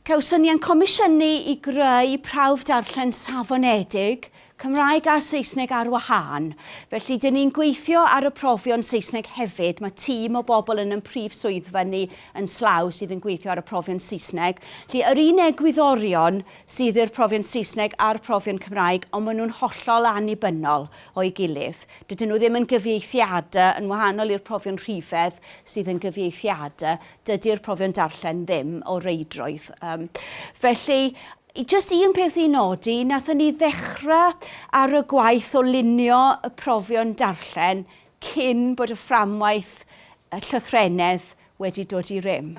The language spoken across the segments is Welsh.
Cawson ni ein comisiynu i greu prawf darllen safonedig, Cymraeg a Saesneg ar wahân, felly dyn ni'n gweithio ar y profion Saesneg hefyd, mae tîm o bobl yn ein prif swyddfa ni yn Slaw sydd yn gweithio ar y profion Saesneg, felly yr un egwyddorion sydd i'r profion Saesneg a'r profion Cymraeg, ond maen nhw'n hollol annibynnol o'i gilydd. Dydyn nhw ddim yn gyfieithiada, yn wahanol i'r profion rhifedd sydd yn gyfieithiada, dydy'r profion darllen ddim o reidrwydd. Um, felly, Just un peth i nodi, nathon ni ddechrau ar y gwaith o lunio y profion darllen cyn bod y fframwaith y llythrennedd wedi dod i rym.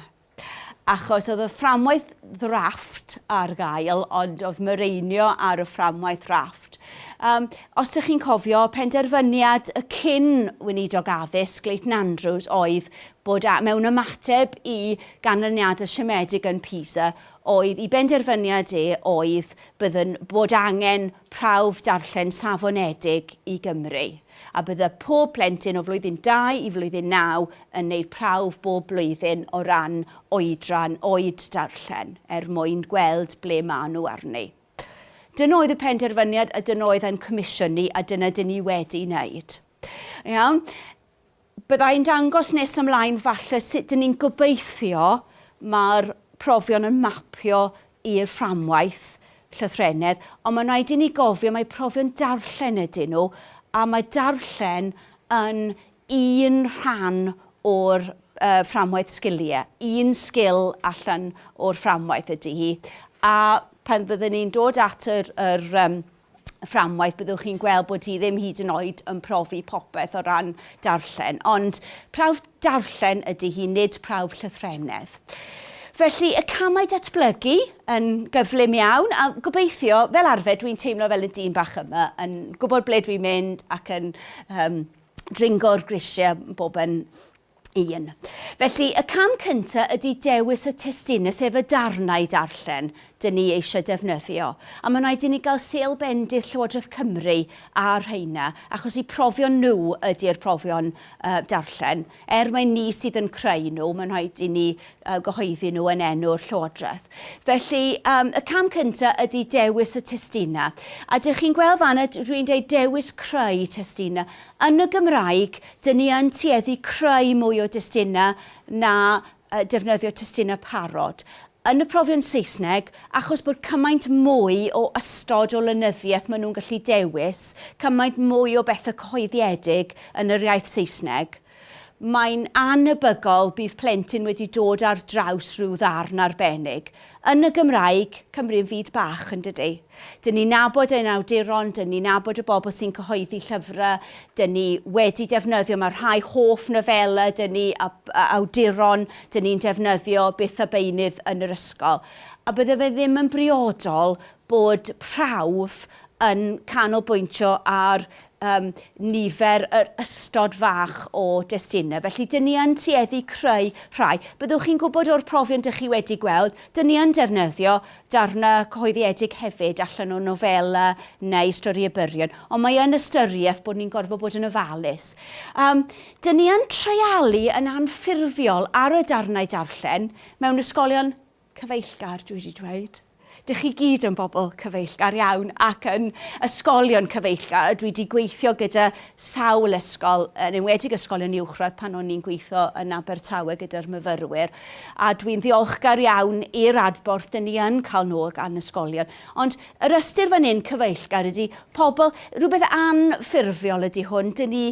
Achos oedd y fframwaith ddrafft ar gael, ond oedd mireinio ar y fframwaith ddrafft. Um, os ydych chi'n cofio, penderfyniad y cyn weinidog addysg, Leighton Andrews, oedd bod a, mewn ymateb i ganlyniadau siomedig yn PISA, oedd i benderfyniad e oedd byddwn bod angen prawf darllen safonedig i Gymru. a bydde pob plentyn o flwyddyn dau i flwyddyn naw yn wneud prawf bob blwyddyn o ran oedran oed darllen, er mwyn gweld ble maen nhw arni. Dyna oedd y penderfyniad a dyna oedd ein comisiynu a dyna dyn ni wedi wneud. Iawn? Bydda i'n dangos nes ymlaen falle sut dyn ni'n gobeithio mae'r profion yn mapio i'r fframwaith llythrennedd, ond mae'n rhaid i ni gofio mai profion darllen ydyn nhw, a mae darllen yn un rhan o'r fframwaith sgiliau, un sgil allan o'r fframwaith ydy hi, a pan fydden ni'n dod at yr fframwaith byddwch chi'n gweld bod hi ddim hyd yn oed yn profi popeth o ran darllen, ond prawf darllen ydy hi, nid prawf llythrennedd. Felly y camau datblygu yn gyflym iawn a gobeithio, fel arfer dwi'n teimlo fel y dyn bach yma, yn gwybod ble dwi'n mynd ac yn um, dringo'r grisiau bob yn un. Felly, y cam cyntaf ydy dewis y testune, sef y darnau i darllen dyn ni eisiau defnyddio. A mae'n rhaid i ni gael sêl bendith Llywodraeth Cymru ar rheina, achos eu profion nhw ydy'r profion uh, darllen. Er mae ni sydd yn creu nhw, mae'n rhaid i ni uh, gyhoeddi nhw yn enw'r Llywodraeth. Felly, um, y cam cyntaf ydy dewis y testuna. A dych chi'n gweld fan, rwy'n dweud dewis creu testuna. Yn y Gymraeg, Dŷn ni yn tueddu creu mwy o destunau na defnyddio testunau parod. Yn y profion Saesneg, achos bod cymaint mwy o ystod o lenyddiaeth maen nhw'n gallu dewis, cymaint mwy o bethau cyhoeddiedig yn yr iaith Saesneg, mae'n annhebygol bydd plentyn wedi dod ar draws rhyw ddarn arbennig. Yn y Gymraeg, Cymru yn fyd bach, yn dydy? Dyn ni'n nabod ein awduron, dyn ni'n nabod y bobl sy'n cyhoeddi llyfrau, dyn ni wedi defnyddio, mae rhai hoff nofelau dyn ni a awduron dyn ni'n defnyddio byth a beunydd yn yr ysgol. A bydde fe ddim yn briodol bod prawf yn canolbwyntio ar yym, nifer, yr ystod fach o destunau. Felly, dyn ni yn tueddu creu rhai. Byddwch chi'n gwybod o'r profion dych chi wedi gweld, dyn ni yn defnyddio darnau cyhoeddiedig hefyd allan o nofela neu storïau byrion, ond mae yn ystyriaeth bod ni'n gorfod bod yn ofalus. Um, dyn ni yn treialu yn anffurfiol ar y darnau darllen mewn ysgolion cyfeillgar, dwi wedi dweud. Dych chi gyd yn bobl cyfeillgar iawn ac yn ysgolion cyfeillgar. Dwi wedi gweithio gyda sawl ysgol, yn enwedig ysgolion uwchradd pan o'n i'n gweithio yn Abertawe gyda'r myfyrwyr. A dwi'n ddiolchgar iawn i'r adborth dyn ni yn cael nôl gan ysgolion. Ond yr ystyr fan hyn, cyfeillgar, ydy pobl, rhywbeth anffurfiol ydy hwn. Dyn ni,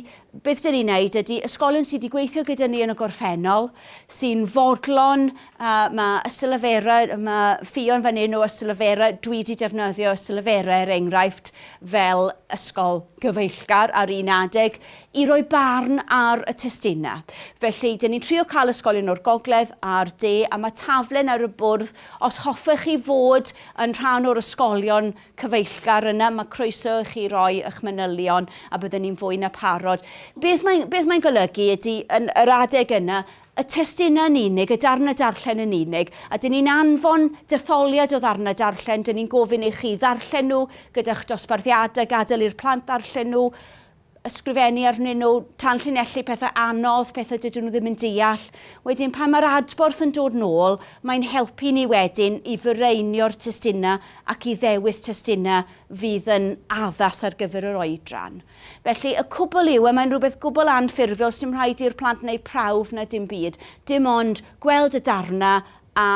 beth dyn ni'n neud ydy ysgolion sydd wedi gweithio gyda ni yn y gorffennol, sy'n fodlon A ma ysyllefera, ma ffion fan hyn o ysyllefera, dwi di defnyddio ysyllefera er enghraifft fel ysgol gyfeillgar ar un adeg i roi barn ar y testina. Felly, dyn ni'n trio cael ysgolion o'r gogledd a'r de a ma taflen ar y bwrdd, os hoffech chi fod yn rhan o'r ysgolion cyfeillgar yna, ma croeso i chi roi ych manylion a bydden ni'n fwy na parod. Beth mae'n beth mae'n golygu ydy, yn yr adeg yna, y testunau yn unig, y darnau darllen yn unig, a dyn ni'n anfon detholiad o ddarnau darllen, dyn ni'n gofyn i chi ddarllen nhw gyda'ch dosbarthiadau, gadael i'r plant ddarllen nhw, ysgrifennu arnyn nhw, tanllinellu pethau anodd, pethau dydyn nhw ddim yn deall. Wedyn pan mae'r adborth yn dod nôl, mae'n helpu ni wedyn i fireinio'r testunau ac i ddewis testunau fydd yn addas ar gyfer yr oedran. Felly, y cwbl yw, y mae'n rhywbeth gwbl anffurfiol, sdim rhaid i'r plant wneud prawf na dim byd, dim ond gweld y darnau a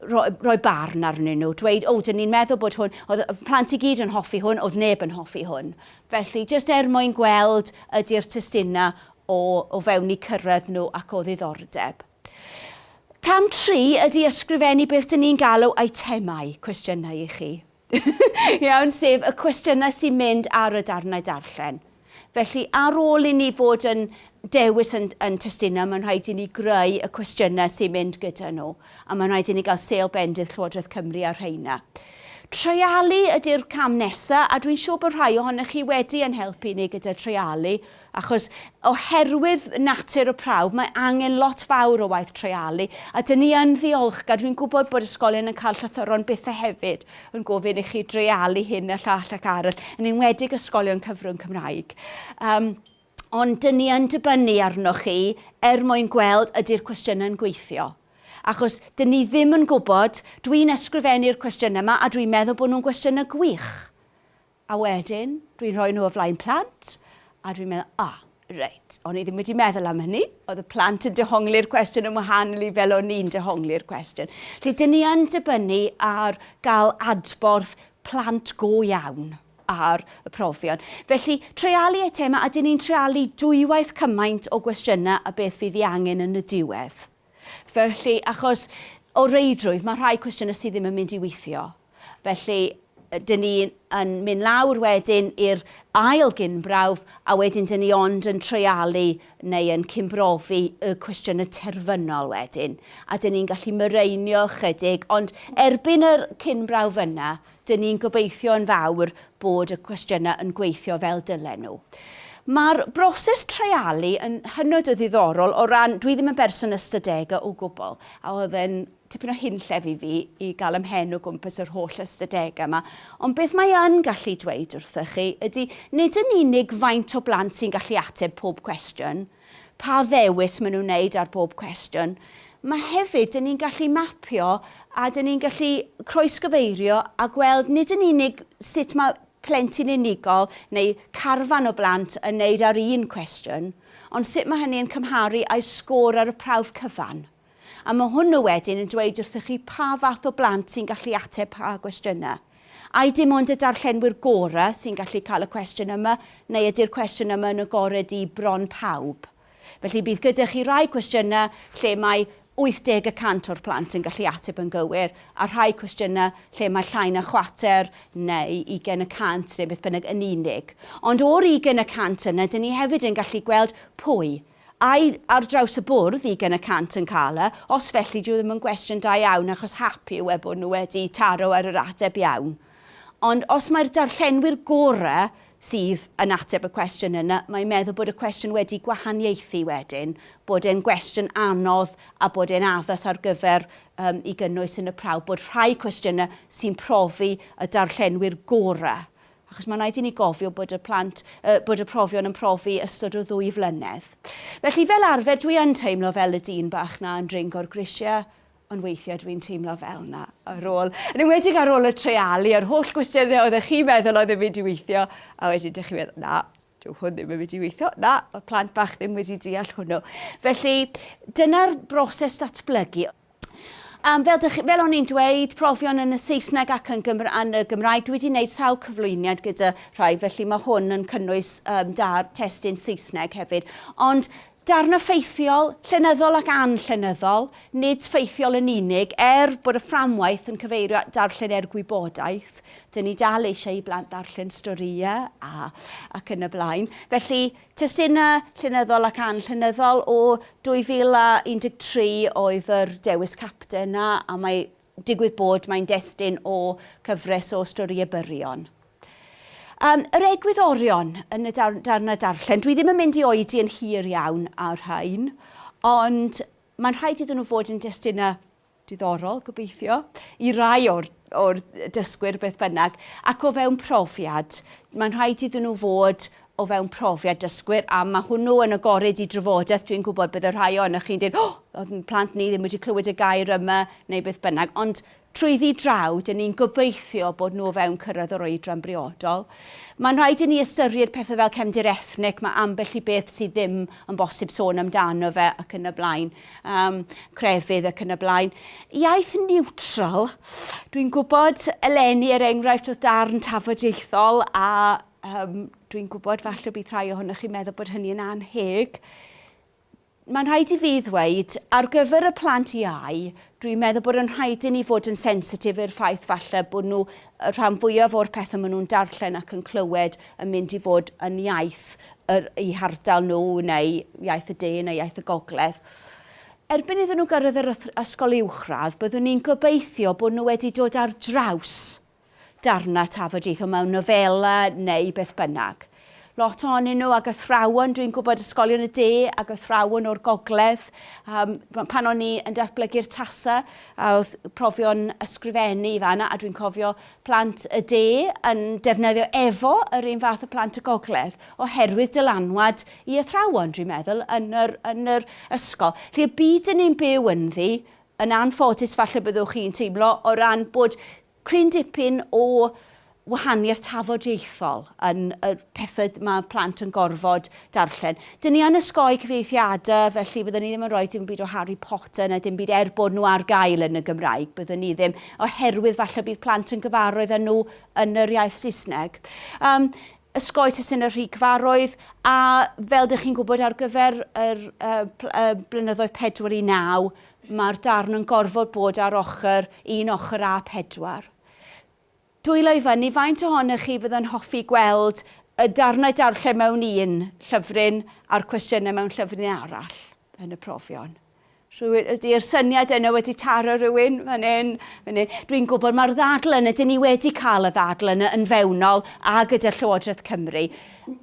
rhoi, rhoi barn arnyn nhw, dweud, o, dyn ni'n meddwl bod hwn, oedd y plant i gyd yn hoffi hwn, oedd neb yn hoffi hwn. Felly, jyst er mwyn gweld ydy'r testunau o, o fewn eu cyrraedd nhw ac o ddiddordeb. Cam tri ydy ysgrifennu beth dyn ni'n galw eitemau cwestiynau i chi. Iawn, sef y cwestiynau sy'n mynd ar y darnau darllen. Felly, ar ôl i ni fod yn dewis yn, yn testunau, mae'n rhaid i ni greu y cwestiynau sy'n mynd gyda nhw, a mae'n rhaid i ni gael sêl bendith Llywodraeth Cymru ar rheina. Treialu ydy'r cam nesaf, a dwi'n siŵr bod rhai ohonych chi wedi yn helpu ni gyda treialu, Achos oherwydd natur y prawf, mae angen lot fawr o waith treialu, a dyn ni yn ddiolchgar, dwi'n gwybod bod ysgolion yn cael llythyron bytha hefyd yn gofyn i chi dreialu hyn a llall ac arall, yn enwedig ysgolion cyfrwng Cymraeg. Um, ond dyn ni yn dibynnu arnoch chi er mwyn gweld ydy'r cwestiynau yn gweithio achos dyn ni ddim yn gwybod, dwi'n ysgrifennu'r cwestiynau yma a dwi'n meddwl bod nhw'n gwestiynau gwych. A wedyn, dwi'n rhoi nhw o flaen plant, a dwi'n meddwl, o, reit, o'n i ddim wedi meddwl am hynny, oedd y plant yn dehongli'r cwestiwn yn wahanol i fel o'n i'n dehongli'r cwestiwn. Felly, dyn ni yn dibynnu ar gael adborth plant go iawn ar y profion. Felly, treialu eitemau, a dyn ni'n treialu dwywaith cymaint o gwestiynau a beth fydd ei angen yn y diwedd. Felly, achos o reidrwydd, mae rhai cwestiynau sydd ddim yn mynd i weithio. Felly, dyn ni yn mynd lawr wedyn i'r ail gynbrawf, a wedyn dyn ni ond yn treialu neu yn cymbrofi y cwestiynau terfynol wedyn. A dyn ni'n gallu myreinio chydig, ond erbyn yr cynbrawf yna, Dyn ni'n gobeithio yn fawr bod y cwestiynau yn gweithio fel dylen nhw. Mae'r broses treialu yn hynod o ddiddorol o ran, dwi ddim yn berson ystadegau o gwbl, a oedd e'n tipyn o hunllef i fi i gael ym mhen o gwmpas yr holl ystadegau yma, ond beth mae yn gallu dweud wrthych chi ydy nid yn unig faint o blant sy'n gallu ateb pob cwestiwn, pa ddewis maen nhw'n wneud ar bob cwestiwn. Mae hefyd, dyn ni'n gallu mapio a dyn ni'n gallu croesgyfeirio a gweld nid yn unig sut mae plentyn unigol neu carfan o blant yn wneud ar un cwestiwn, ond sut mae hynny yn cymharu â'i sgôr ar y prawf cyfan. A mae hwnnw wedyn yn dweud wrthych chi pa fath o blant sy'n gallu ateb pa gwestiynau. Ai dim ond y darllenwyr gorau sy'n gallu cael y cwestiwn yma, neu ydy'r cwestiwn yma yn agored i bron pawb? Felly bydd gyda chi rai cwestiynau lle mae 80 y cant o'r plant yn gallu ateb yn gywir, a rhai cwestiynau lle mae llai na chwarter neu ugain y cant, neu beth bynnag, yn unig. Ond o'r ugain y cant yna, dyn ni hefyd yn gallu gweld pwy. Ai ar draws y bwrdd ugain y cant yn cael e? Os felly, dyw e ddim yn gwestiwn da iawn achos hap yw e bod nhw wedi taro ar yr ateb iawn. Ond os mai'r darllenwyr gorau sydd yn ateb y cwestiwn yna, mae'n meddwl bod y cwestiwn wedi gwahaniaethu wedyn, bod e'n gwestiwn anodd a bod e'n addas ar gyfer um, i gynnwys yn y prawf, bod rhai cwestiynau sy'n profi y darllenwyr gorau achos mae'n rhaid i ni gofio bod y plant, yy, bod y profion yn profi ystod o ddwy flynedd. Felly, fel arfer, dwi yn teimlo fel y dyn bach 'na yn dringo'r grisiau, ond weithiau dwi'n teimlo fel 'na ar ôl, yn enwedig ar ôl y treialu a'r holl gwestiynau oeddech chi'n meddwl oedd yn mynd i weithio, a wedyn dych chi'n meddwl, na, Dyw hwn ddim yn mynd i weithio. Na, mae plant bach ddim wedi deall hwnnw. Felly, dyna'r broses datblygu. Um, fel, dych, fel o'n i'n dweud, profion yn y Saesneg ac yn, Gymra yn y Gymraeg, dwi wedi gwneud sawl cyflwyniad gyda rhai, felly mae hwn yn cynnwys um, da testyn Saesneg hefyd. Ond Darn o ffeithiol, llenyddol ac anllenyddol, nid ffeithiol yn unig, er bod y fframwaith yn cyfeirio at darllen er gwybodaeth, dyn ni dal eisiau i blant ddarllen storïau a ac yn y blaen. Felly, testunau llenyddol ac anllenyddol o 2013 oedd yr dewis capten 'na, a mae Digwydd bod, mae'n destun o cyfres o storïau byrion. Um, yr egwyddorion yn y dar darnau darllen, dwi ddim yn mynd i oedi yn hir iawn ar rhain, ond mae'n rhaid iddyn nhw fod yn destunau diddorol, gobeithio, i rai o'r, or dysgwyr beth bynnag, ac o fewn profiad, mae'n rhaid iddyn nhw fod o fewn profiad dysgwyr, a mae hwnnw yn agored i drafodaeth, dwi'n gwybod bydd y rhai ohonoch chi'n dweud, oh, oedd yn plant ni ddim wedi clywed y gair yma, neu beth bynnag, ond trwyddi draw, dyn ni'n gobeithio bod nhw o fewn cyrraedd yr oedran briodol. Mae'n rhaid i ni ystyried pethau fel cefndir ethnic, mae ambell i beth sydd ddim yn bosib sôn amdano fe ac yn y blaen, um, crefydd ac yn y blaen. Iaith niwtral, dwi'n gwybod eleni er enghraifft oedd darn tafodieithol a Yym, dwi'n gwybod falle bydd rhai ohonoch chi'n meddwl bod hynny yn anheg. Mae'n rhaid i fi ddweud, ar gyfer y plant iau, dwi'n meddwl bod yn rhaid i ni fod yn sensitif i'r ffaith falle bod nhw, y rhan fwyaf o'r pethau maen nhw'n darllen ac yn clywed yn mynd i fod yn iaith yr, i hardal nhw neu iaith y de neu iaith y gogledd. Erbyn iddyn nhw gyrraedd yr ysgol uwchradd, byddwn ni'n gobeithio bod nhw wedi dod ar draws darnau tafodieitho mewn nofela neu beth bynnag. Lot ohonyn nhw ag athrawon, dwi'n gwybod ysgolion y de ag athrawon o'r gogledd. Um, pan o'n i yn datblygu'r tasa, a oedd profion ysgrifennu i fanna, a dwi'n cofio plant y de yn defnyddio efo yr un fath o plant y gogledd, oherwydd dylanwad i athrawon, dwi'n meddwl, yn yr, yn yr ysgol. Felly y byd yn ni'n byw ynddi, Yn anffodus falle byddwch chi'n teimlo o ran bod cryn dipyn o wahaniaeth tafodieithol yn y pethau mae plant yn gorfod darllen. Dyn ni yn ysgoi cyfieithiadau felly fyddwn ni ddim yn rhoi dim byd o Harry Potter na dim byd er bod nhw ar gael yn y Gymraeg, byddwn ni ddim, oherwydd falle bydd plant yn gyfarwydd â nhw yn yr iaith Saesneg. Um, Osgoi testun y rhigfarroedd, a fel dych chi'n gwybod ar gyfer yr blynyddoedd 4 i 9, mae'r darn yn gorfod bod ar ochr, un ochr A4. Dwylo i fyny, faint ohonoch chi fydd yn hoffi gweld y darnau darllen mewn un llyfryn a'r cwestiynau mewn llyfryn arall yn y profion? Rhywun, ydy'r syniad yna wedi taro rhywun fan hyn, fan hyn. Dwi'n gwybod mae'r ddadl yna, dyn ni wedi cael y ddadl yna yn fewnol a gyda Llywodraeth Cymru.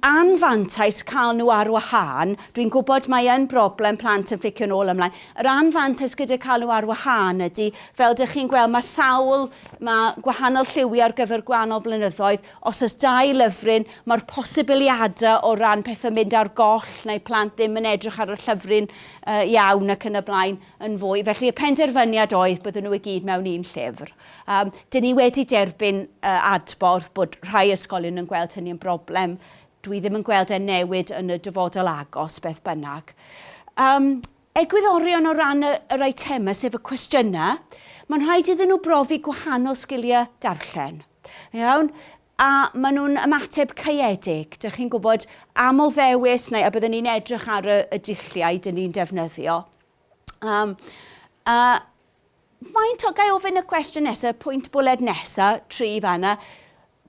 Anfantais cael nhw ar wahân, dwi'n gwybod mae yn broblem plant yn fflicio'n ôl ymlaen. Yr anfantais gyda cael nhw ar wahân ydy, fel dych chi'n gweld, mae sawl, mae gwahanol lliwiau ar gyfer gwahanol blynyddoedd, Os oes dau lyfryn, mae'r posibiliadau o ran pethau'n mynd ar goll neu plant ddim yn edrych ar y llyfryn iawn ac yn y blaen yn fwy. Felly y penderfyniad oedd bydden nhw i gyd mewn un llyfr. Um, dyn ni wedi derbyn uh, adborth bod rhai ysgolion yn gweld hynny yn broblem. Dwi ddim yn gweld e'n newid yn y dyfodol agos beth bynnag. Um, Egwyddorion o ran yr eitemau, sef y cwestiynau, mae'n rhaid iddyn nhw brofi gwahanol sgiliau darllen. Iawn? A maen nhw'n ymateb caeedig. Dych chi'n gwybod, aml ddewis, neu a byddwn ni'n edrych ar y, y dulliau dyn ni'n defnyddio. Um, a faint o, gai ofyn y cwestiwn nesaf, pwynt bwled nesaf, tri fanna,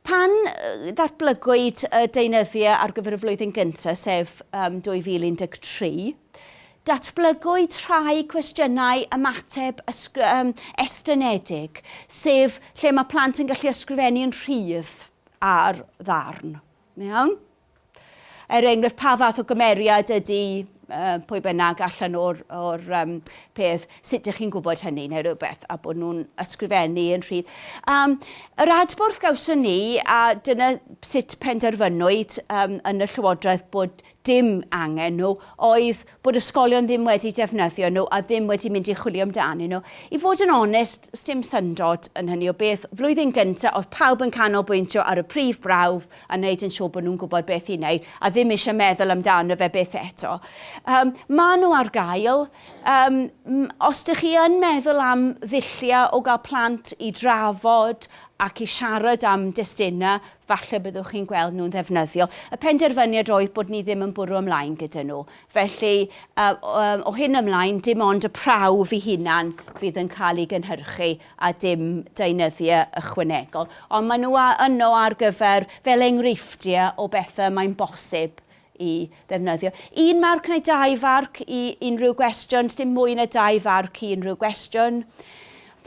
Pan ddatblygwyd y deunyddiau ar gyfer y flwyddyn gyntaf, sef 2013, datblygwyd rhai cwestiynau ymateb estynedig, sef lle mae plant yn gallu ysgrifennu'n rhydd ar ddarn. Iawn? Er enghraifft, pa fath o gymeriad ydy pwy bynnag allan o'r, o'r um, peth, sut ydych chi'n gwybod hynny neu rhywbeth, a bod nhw'n ysgrifennu yn rhydd. Um, yr adborth gawson ni, a dyna sut penderfynwyd um, yn y Llywodraeth bod dim angen nhw, oedd bod ysgolion ddim wedi defnyddio nhw a ddim wedi mynd i chwilio amdanyn nhw. I fod yn onest, sdim syndod yn hynny o beth. Flwyddyn gynta, oedd pawb yn canolbwyntio ar y prif brawf a wneud yn siŵr bod nhw'n gwybod beth i wneud a ddim eisiau meddwl amdano fe byth eto. Yym, maen nhw ar gael. Yym, os dych chi yn meddwl am ddulliau o gael plant i drafod ac i siarad am destunau, falle byddwch chi'n gweld nhw'n ddefnyddiol. Y penderfyniad oedd bod ni ddim yn bwrw ymlaen gyda nhw. Felly, o hyn ymlaen, dim ond y prawf ei hunan fydd yn cael ei gynhyrchu a dim deunyddiau ychwanegol. Ond maen nhw yno ar gyfer, fel enghreifftiau o bethau mae'n bosib i ddefnyddio un marc neu dau farc i unrhyw gwestiwn, sdim mwy na dau farc i unrhyw gwestiwn.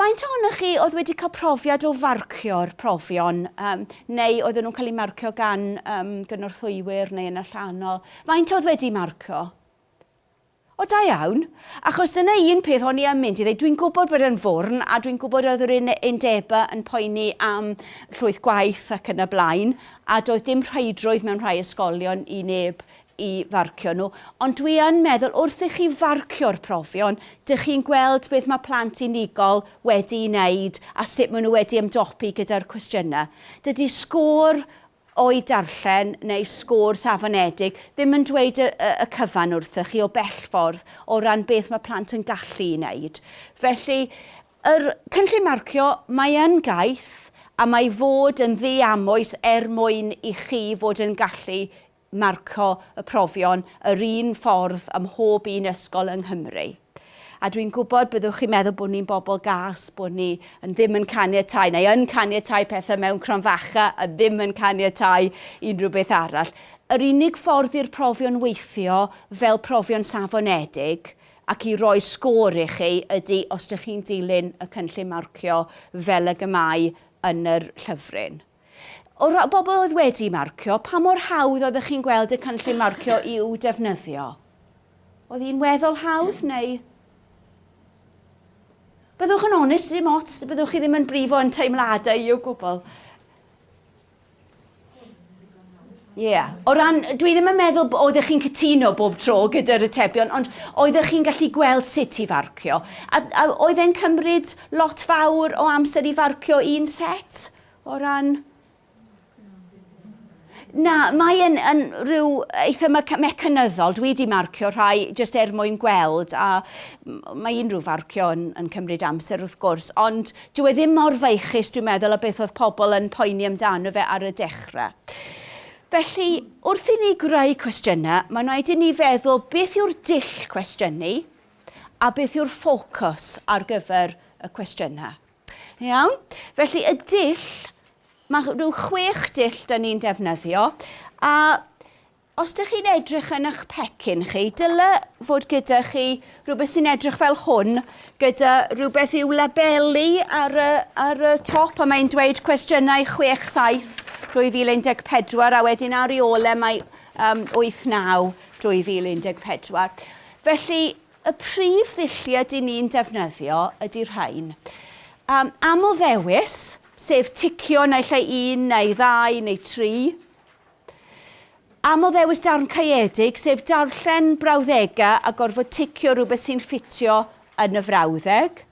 Faint ohonoch chi oedd wedi cael profiad o farcio'r profion, um, neu oedden nhw'n cael eu marcio gan um, gynorthwywyr neu yn allanol? Faint oedd wedi marcio? O da iawn. Achos dyna un peth o'n i yn mynd i ddweud, dwi'n gwybod bod e'n fwrn a dwi'n gwybod oedd yr un undeba yn poeni am llwyth gwaith ac yn y blaen a doedd dim rheidrwydd mewn rhai ysgolion i neb i farcio nhw, ond dwi yn meddwl wrth i chi farcio'r profion, dych chi'n gweld beth mae plant unigol wedi'i wneud a sut maen nhw wedi ymdopi gyda'r cwestiynau. Dydy sgôr O'u darllen neu sgwrs afonedig ddim yn dweud y y cyfan wrthych chi o bell ffordd o ran beth mae plant yn gallu'i wneud. Felly, yr cynllun marcio, mae yn gaeth a mae i fod yn ddiamwys er mwyn i chi fod yn gallu marcio y profion yr un ffordd ym mhob un ysgol yng Nghymru. A dwi'n gwybod byddwch chi'n meddwl bod ni'n bobl gas, bod ni yn ddim yn caniatau, neu yn caniatau pethau mewn cronfacha a ddim yn caniatau unrhyw beth arall. Yr unig ffordd i'r profion weithio fel profion safonedig ac i roi sgôr i chi ydy os dych chi'n dilyn y cynllun marcio fel ag y mae yn yr llyfryn. O ran pobl oedd wedi marcio, pa mor hawdd oeddech chi'n gweld y cynllun marcio i'w defnyddio? Oedd hi'n weddol hawdd neu... Byddwch yn onest, dim ots, byddwch chi ddim yn brifo yn teimladau i o gwbl. Ie. Yeah. O ran, dwi ddim yn meddwl bod oeddech chi'n cytuno bob tro gyda'r atebion, ond oeddech chi'n gallu gweld sut i farcio. A, a oedd e'n cymryd lot fawr o amser i farcio un set? Ie. O ran... Na, mae yn, yn rhyw eitha mecanyddol. Dwi wedi marcio rhai jyst er mwyn gweld a mae unrhyw farcio yn, yn cymryd amser wrth gwrs, ond dyw e ddim mor feichus dwi'n meddwl a beth oedd pobl yn poeni amdano fe ar y dechrau. Felly, wrth i ni greu cwestiynau, mae'n rhaid i ni feddwl beth yw'r dull cwestiynu a beth yw'r ffocws ar gyfer y cwestiynau. Iawn, felly y dull, mae rhyw chwech dull da ni'n defnyddio, a os ydych chi'n edrych yn eich pecyn chi, dyle fod gyda chi rhywbeth sy'n edrych fel hwn, gyda rhywbeth i'w labelu ar y, ar y top, a mae'n dweud cwestiynau 6-7 2014, a wedyn ar ei ole mae um, 8-9 2014. Felly, Y prif ddulliau dŷn ni'n defnyddio ydy rhain. Am amlddewis, sef ticio naill ai un neu ddau neu tri. Amlddewis darn caeedig, sef darllen brawddegau a gorfod ticio rhywbeth sy'n ffitio yn y frawddeg.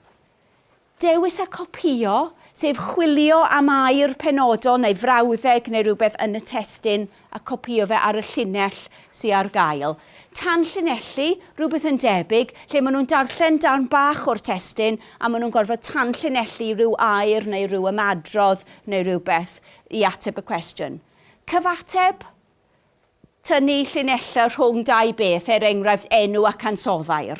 Dewis a copïo, sef chwilio am air penodol neu frawddeg neu rywbeth yn y testun a copïo fe ar y llinell sy ar gael. Tanllinellu, rhywbeth yn debyg, lle maen nhw'n darllen darn bach o'r testun a maen nhw'n gorfod tanllinellu rhyw air neu ryw ymadrodd neu rywbeth i ateb y cwestiwn. Cyfateb, Tynnu llinellau rhwng dau beth, er enghraifft enw ac ansoddair.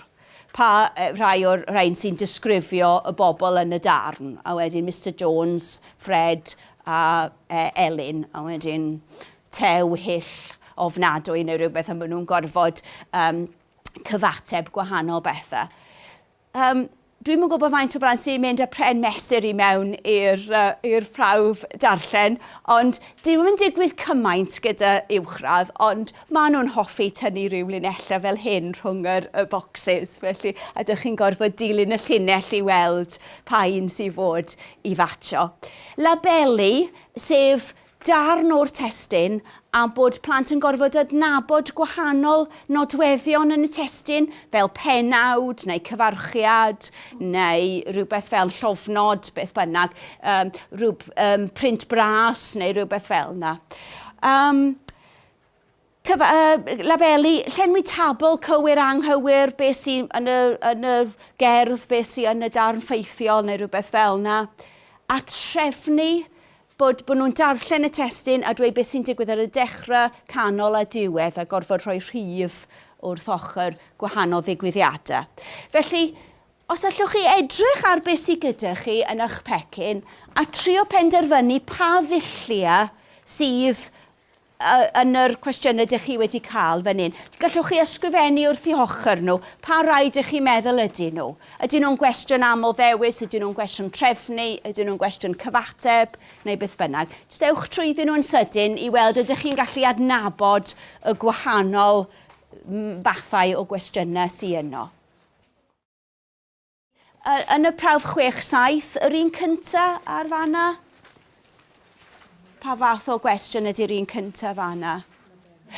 Pa rai o'r rhain sy'n disgrifio y bobl yn y darn? A wedyn Mister Jones, Fred a Elin. A wedyn tew hyll, ofnadwy neu rhywbeth a maen nhw'n gorfod cyfateb gwahanol bethau. Yym, dwi'm yn gwybod faint o blant sy'n mynd â pren mesur i mewn i'r uh, i'r prawf darllen, ond dwi'm yn digwydd cymaint gyda uwchradd, ond maen nhw'n hoffi tynnu rhyw linellau fel hyn rhwng yr, y bocsys, felly, a dych chi'n gorfod dilyn y llinell i weld pa un sy'n fod i fatio. Labelu, sef darn o'r testun a bod plant yn gorfod adnabod gwahanol nodweddion yn y testun fel pennawd neu cyfarchiad neu rhywbeth fel llofnod, beth bynnag, um, rhyw um, print bras neu rhywbeth fel yna. Um, Cyf, yy, labelu, llenwi tabl cywir anghywir, beth sy yn y, yn y gerdd, beth sy yn y darn ffeithiol neu rhywbeth fel yna. A trefnu bod, bod nhw'n darllen y testyn a dweud beth sy'n digwydd ar y dechrau, canol a diwedd a gorfod rhoi rhif wrth ochr gwahanol ddigwyddiadau. Felly, os allwch chi edrych ar beth sydd gyda chi yn eich pecyn a trio penderfynu pa ddulliau sydd yn yr cwestiynau dych chi wedi cael fan hyn. Gallwch chi ysgrifennu wrth i hochr nhw pa rai dych chi'n meddwl ydyn nhw. Ydyn nhw'n gwestiwn aml ddewis, ydyn nhw'n gwestiwn trefnu, ydyn nhw'n gwestiwn cyfateb, neu beth bynnag. Jyst ewch trwyddyn nhw'n sydyn i weld ydych chi'n gallu adnabod y gwahanol fathau o gwestiynau sydd yno. Yn y prawf chwech saith, yr un cynta ar fanna? Pa fath o gwestiwn ydy'r un cynta fanna?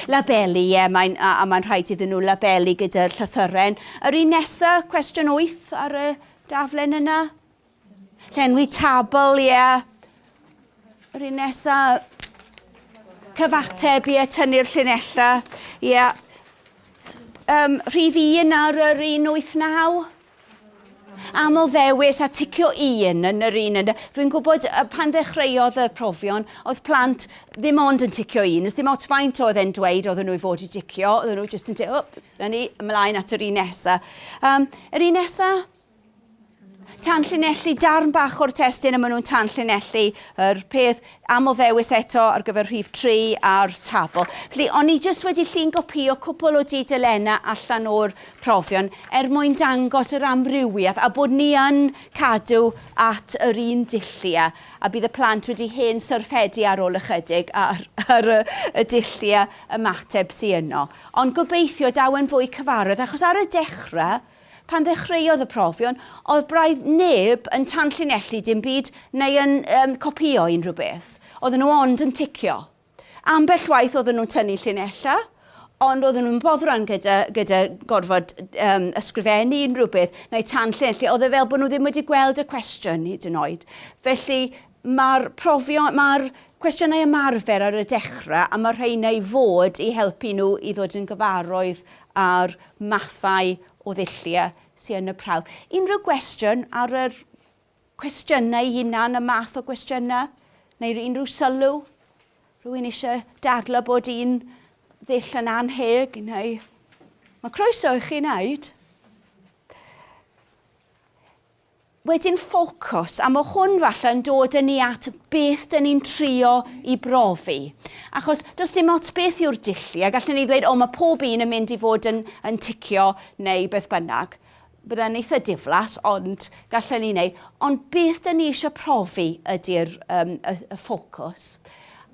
Labelu, ie, mae'n, a, a mae'n rhaid iddyn nhw labelu gyda'r llythyren. Yr un nesa, cwestiwn wyth ar y daflen yna? Llenwi tabl, ie. Yr un nesa, cyfateb, ie, tynnu'r llinellau, ie. Um, rhif un ar yr 189. Aml ddewis a ticio un yn yr un. Rwy'n gwybod pan ddechreuodd y profion, oedd plant ddim ond yn ticio un. Ys dim ots faint oedd e'n dweud oedd nhw i fod i dicio, oedd nhw jyst yn ticio, oh, ni, ymlaen at yr un nesa. Um, yr un nesa, Tanllinellu, darn bach o'r testun a maen nhw'n tanllinellu yr peth am o ddewis eto ar gyfer rhif 3 a'r tabl. Felly, o'n i jyst wedi llun gopïo cwpl o dudalennau allan o'r profion er mwyn dangos yr amrywiaeth a bod ni yn cadw at yr un dulliau a bydd y plant wedi hen syrffedu ar ôl ychydig ar, ar y, y dulliau ymateb sy yno. Ond gobeithio daw e'n fwy cyfarwydd achos ar y dechrau Pan ddechreuodd y profion, oedd braidd neb yn tanllinellu dim byd neu yn um, copïo unrhyw beth. Oedden nhw ond yn ticio. Ambell waith oedden nhw'n tynnu llinellau, ond oedden nhw'n boddran gyda, gyda gorfod um, ysgrifennu unrhyw beth neu tanllinellu. Oedd e fel bod nhw ddim wedi gweld y cwestiwn hyd yn oed. Felly, Mae'r profion, mae'r cwestiynau ymarfer ar y dechrau a mae'r rheina i fod i helpu nhw i ddod yn gyfarwydd â'r mathau o ddulliau sydd yn y prawf. Unrhyw gwestiwn ar yr cwestiynau hunan, y math o gwestiynau, neu unrhyw sylw? Rwy'n eisiau dadlau bod un ddull yn anheg neu... Mae croeso i chi wneud. wedyn ffocws, a mae hwn falle yn dod yn ni at beth dyn ni'n trio i brofi. Achos does dim ots beth yw'r dulli, a gallen ni ddweud, o mae pob un yn mynd i fod yn, yn ticio neu beth bynnag. Byddai'n eitha diflas, ond gallen ni wneud. Ond beth dyn ni eisiau profi ydy'r um, y, y ffocws.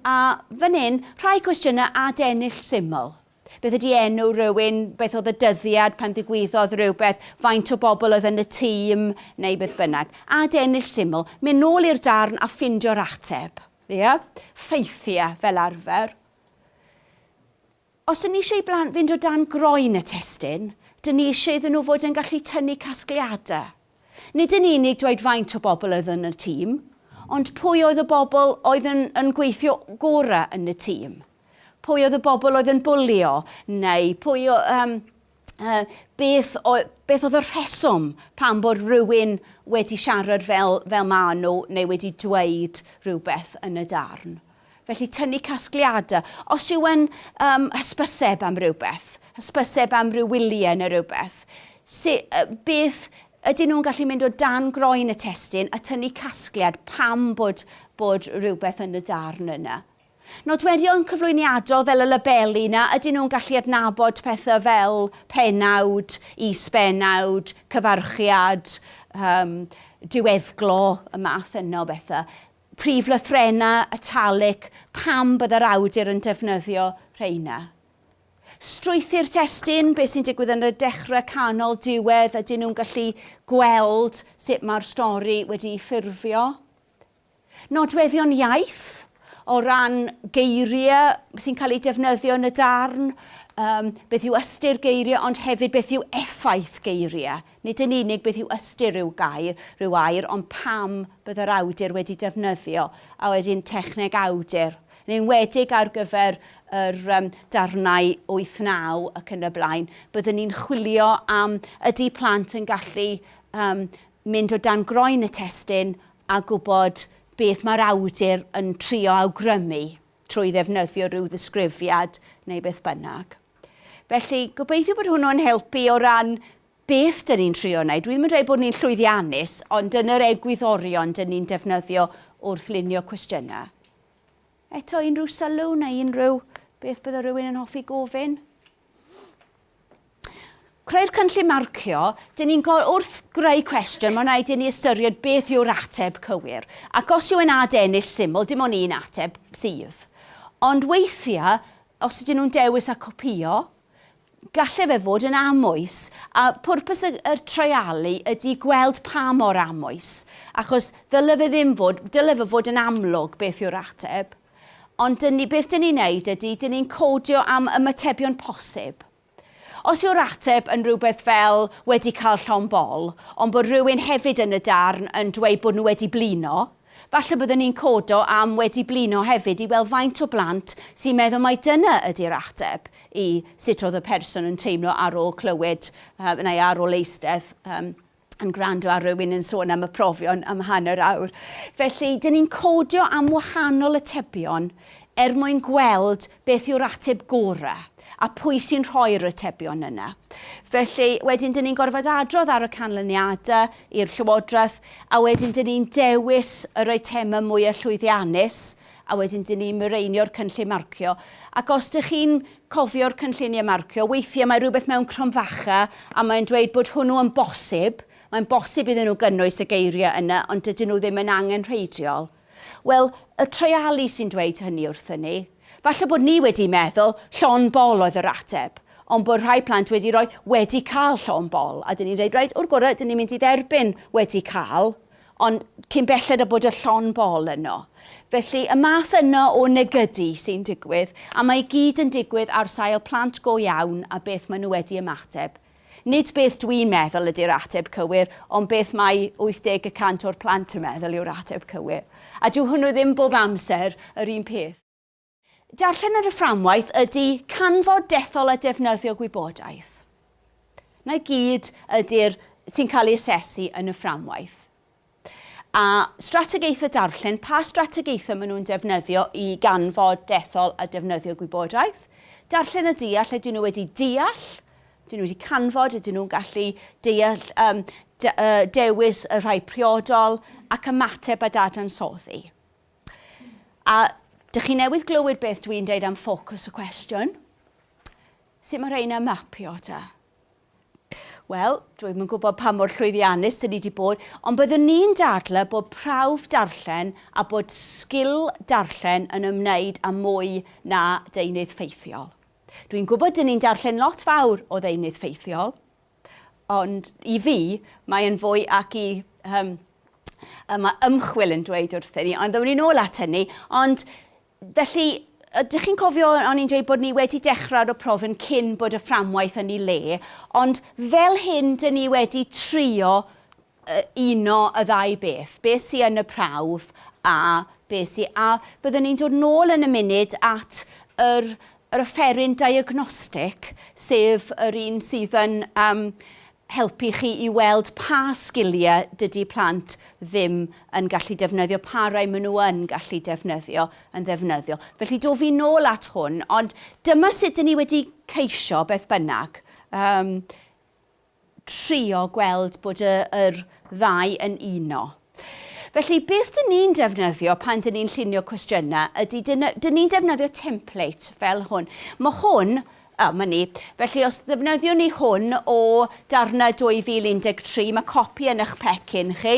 A fan hyn, rhai cwestiynau adennill syml. Beth ydi enw rywun? Beth oedd y dyddiad pan ddigwyddodd rhywbeth? Faint o bobl oedd yn y tîm? Neu beth bynnag. Ad-ennill syml. Mynd nôl i'r darn a ffindio'r ateb. Ia? Ffeithiau, fel arfer. Os ydyn ni eisiau i blant fynd o dan groen y testun, ydyn ni eisiau iddyn nhw fod yn gallu tynnu casgliadau. Nid yn unig dweud faint o bobl oedd yn y tîm, ond pwy oedd y bobl oedd yn yn gweithio gorau yn y tîm. Pwy oedd y bobl oedd yn bwlio, neu pwy o, um, uh, beth, o, beth oedd y rheswm pan bod rhywun wedi siarad fel, fel maen nhw neu wedi dweud rhywbeth yn y darn. Felly tynnu casgliadau. Os yw e'n um, hysbyseb am rhywbeth, hysbyseb am ryw wyliau neu rhywbeth, si, uh, beth ydyn nhw'n gallu mynd o dan groen y testyn a tynnu casgliad pam bod, bod rhywbeth yn y darn yna. Nodweddion cyflwyniadol fel y labeli yna, ydyn nhw'n gallu adnabod pethau fel penawd, is-benawd, cyfarchiad, um, diweddglo, y math yna o bethau. Prif lythrennau italic pan byddai'r awdur yn defnyddio rheina. Strwythur testun, beth sy'n digwydd yn y dechrau, canol, diwedd, ydyn nhw'n gallu gweld sut mae'r stori wedi'i ffurfio. Nodweddion iaith, o ran geiriau sy'n cael eu defnyddio yn y darn, um, beth yw ystyr geiriau ond hefyd beth yw effaith geiriau. Nid yn unig beth yw ystyr rhyw gair, rhyw air, ond pam bydd yr awdur wedi defnyddio, a wedyn techneg awdur, yn enwedig ar gyfer yr um, darnau wyth, naw ac yn y blaen, byddwn ni'n chwilio am ydy plant yn gallu um, mynd o dan groen y testun a gwybod beth mae'r awdur yn trio awgrymu. trwy ddefnyddio rhyw ddisgrifiad neu beth bynnag. Felly, gobeithio bod hwnnw'n helpu o ran beth dyn ni'n trio wneud. Dwi ddim yn dweud bod ni'n llwyddiannus, ond dyna'r egwyddorion dyn ni'n defnyddio wrth lunio cwestiynau. Eto, unrhyw sylw neu unrhyw beth bydde rhywun yn hoffi gofyn? Creu'r cynllun marcio, dyn ni'n gorfod wrth greu cwestiwn, mae'n rhaid i ni ystyried beth yw'r ateb cywir. Ac os yw e'n ad-ennill syml, dim ond un ateb sydd. Ond weithiau, os ydyn nhw'n dewis a copïo, gallai fe fod yn amwys, a pwrpas y, y treialu ydy gweld pa mor amwys, achos ddyle fe ddim fod, dyle fe fod yn amlwg beth yw'r ateb. Ond dyn ni, beth dyn ni'n neud ydy, dyn ni'n codio am ymatebion posib. Os yw'r ateb yn rhywbeth fel wedi cael llond bol, ond bod rhywun hefyd yn y darn yn dweud bod nhw wedi blino, falle byddwn ni'n codo am wedi blino hefyd i weld faint o blant sy'n meddwl mai dyna ydy'r ateb i sut oedd y person yn teimlo ar ôl clywed, neu ar ôl eistedd, yn gwrando ar rywun yn sôn am y profion am hanner awr. Felly, dyn ni'n codio am wahanol atebion er mwyn gweld beth yw'r ateb gorau a pwy sy'n rhoi'r atebion yna. Felly, wedyn dyn ni'n gorfod adrodd ar y canlyniadau i'r Llywodraeth a wedyn dyn ni'n dewis yr eitemau mwyaf llwyddiannus a wedyn dyn ni'n mireinio'r cynllun marcio, ac os dych chi'n cofio'r cynlluniau marcio, weithiau mae rhywbeth mewn cromfacha a mae'n dweud bod hwnnw yn bosib, mae'n bosib iddyn nhw gynnwys y geiriau yna ond dydyn nhw ddim yn angenrheidiol. Wel, y treialu sy'n dweud hynny wrthyn ni. Falle bod ni wedi meddwl llond bol oedd yr ateb, ond bod rhai plant wedi rhoi wedi cael llond bol, a dyn ni'n dweud, reit, o'r gorau, dyn ni'n mynd i dderbyn wedi cael, Ond cyn belled â bod y llond bol yno. Felly, y math yno o negydu sy'n digwydd, a mae i gyd yn digwydd ar sail plant go iawn a beth maen nhw wedi ymateb. Nid beth dwi'n meddwl ydy'r ateb cywir, ond beth mae 80 y cant o'r plant yn meddwl yw'r ateb cywir. A dyw hwnnw ddim bob amser yr un peth. Darllen ar y fframwaith ydy canfod dethol a defnyddio gwybodaeth. Na gyd ydy'r sy'n cael ei asesu yn y fframwaith. A strategaethau darllen, pa strategaethau maen nhw'n defnyddio i ganfod dethol a defnyddio gwybodaeth. Darllen a deall, ydyn nhw wedi deall, ydyn nhw wedi canfod, ydyn nhw'n gallu deall, um, de, uh, dewis y rhai priodol ac ymateb a dadansoddi. A dych chi newydd glywed beth dwi'n deud am ffocws y cwestiwn? Sut mae rheina mapio ta? Wel, dwi'n yn gwybod pa mor llwyddiannus dyn ni wedi bod, ond byddwn ni'n dadle bod prawf darllen a bod sgil darllen yn ymwneud â mwy na deunydd ffeithiol. Dwi'n gwybod dyn ni'n darllen lot fawr o ddeunydd ffeithiol, Ond i fi, mae e'n fwy ac i um, y mae ymchwil yn dweud wrthyn ni, ond ddewn ni'n ôl at hynny. Ond felly, ydych chi'n cofio o'n i'n dweud bod ni wedi dechrau o prof yn cyn bod y fframwaith yn ei le, ond fel hyn, dyn ni wedi trio uno y ddau beth, be sy yn y prawf a be sy, a byddwn ni'n dod nôl yn y munud at yr yr offeryn diagnostic, sef yr un sydd yn yym helpu chi i weld pa sgiliau dydy plant ddim yn gallu defnyddio, pa rai maen nhw yn gallu defnyddio yn ddefnyddiol. Felly do fi nôl at hwn, ond dyma sut dyn ni wedi ceisio, beth bynnag, yym trio gweld bod y, yr ddau yn uno. Felly, beth dyn ni'n defnyddio pan dyn ni'n llunio cwestiynau ydy, dyn, dyn ni'n defnyddio template fel hwn. Mae hwn, o, mae ni. Felly, os ddefnyddiwn ni hwn o darnau 2013, mae copi yn eich pecyn chi.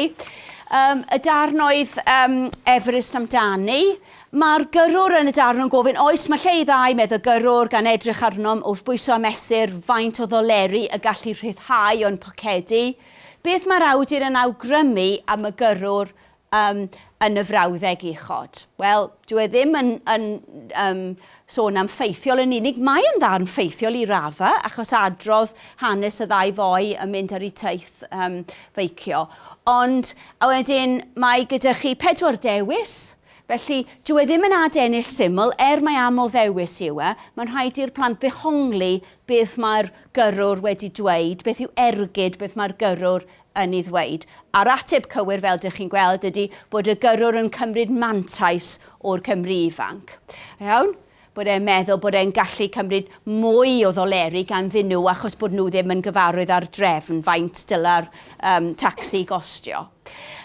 Um, y darn oedd um, Everest amdani, Mae'r gyrrwr yn y darn yn gofyn oes mae lle i ddau medd y gyrrwr gan edrych arnom wrth bwyso a mesur faint o ddoleri y gallu rhyddhau o'n pocedi. Beth mae'r awdur yn awgrymu am y gyrrwr um, yn y frawddeg uchod? Wel, dwi e ddim yn, yn um, sôn am ffeithiol yn unig. Mae yn ddarn ffeithiol i radda, achos adrodd hanes y ddau foi yn mynd ar eu taith um, feicio. Ond, a wedyn, mae gyda chi pedwar dewis, Felly, dyw e ddim yn ad ennill syml, er mai aml ddewis yw e, mae'n rhaid i'r plant ddehongli beth mae'r gyrrwr wedi dweud, beth yw ergyd beth mae'r gyrrwr yn ei ddweud. A'r ateb cywir, fel dych chi'n gweld, ydy bod y gyrrwr yn cymryd mantais o'r Cymry ifanc. Iawn? Bod e'n meddwl bod e'n gallu cymryd mwy o ddoleri ganddyn nhw achos bod nhw ddim yn gyfarwydd â'r drefn, faint dylai'r um, tacsi gostio.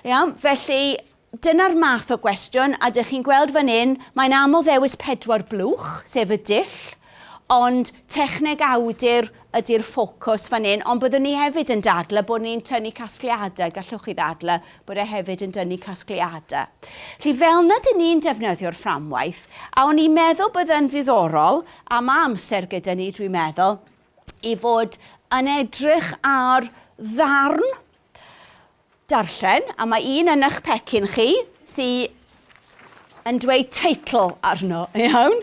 Iawn? Felly, Dyna'r math o gwestiwn, a dych chi'n gweld fan hyn, mae'n aml ddewis pedwar blwch, sef y dull, ond techneg awdur ydy'r ffocws fan hyn, ond byddwn ni hefyd yn dadlau bod ni'n tynnu casgliadau, gallwch chi ddadlau bod e hefyd yn dynnu casgliadau. Felly, fel na dyn ni'n defnyddio'r fframwaith, a o'n i'n meddwl bydde'n ddiddorol, a mae amser gyda ni dwi'n meddwl, i fod yn edrych ar ddarn Darllen, a mae un yn eich pecyn chi sy yn dweud teitl arno, iawn?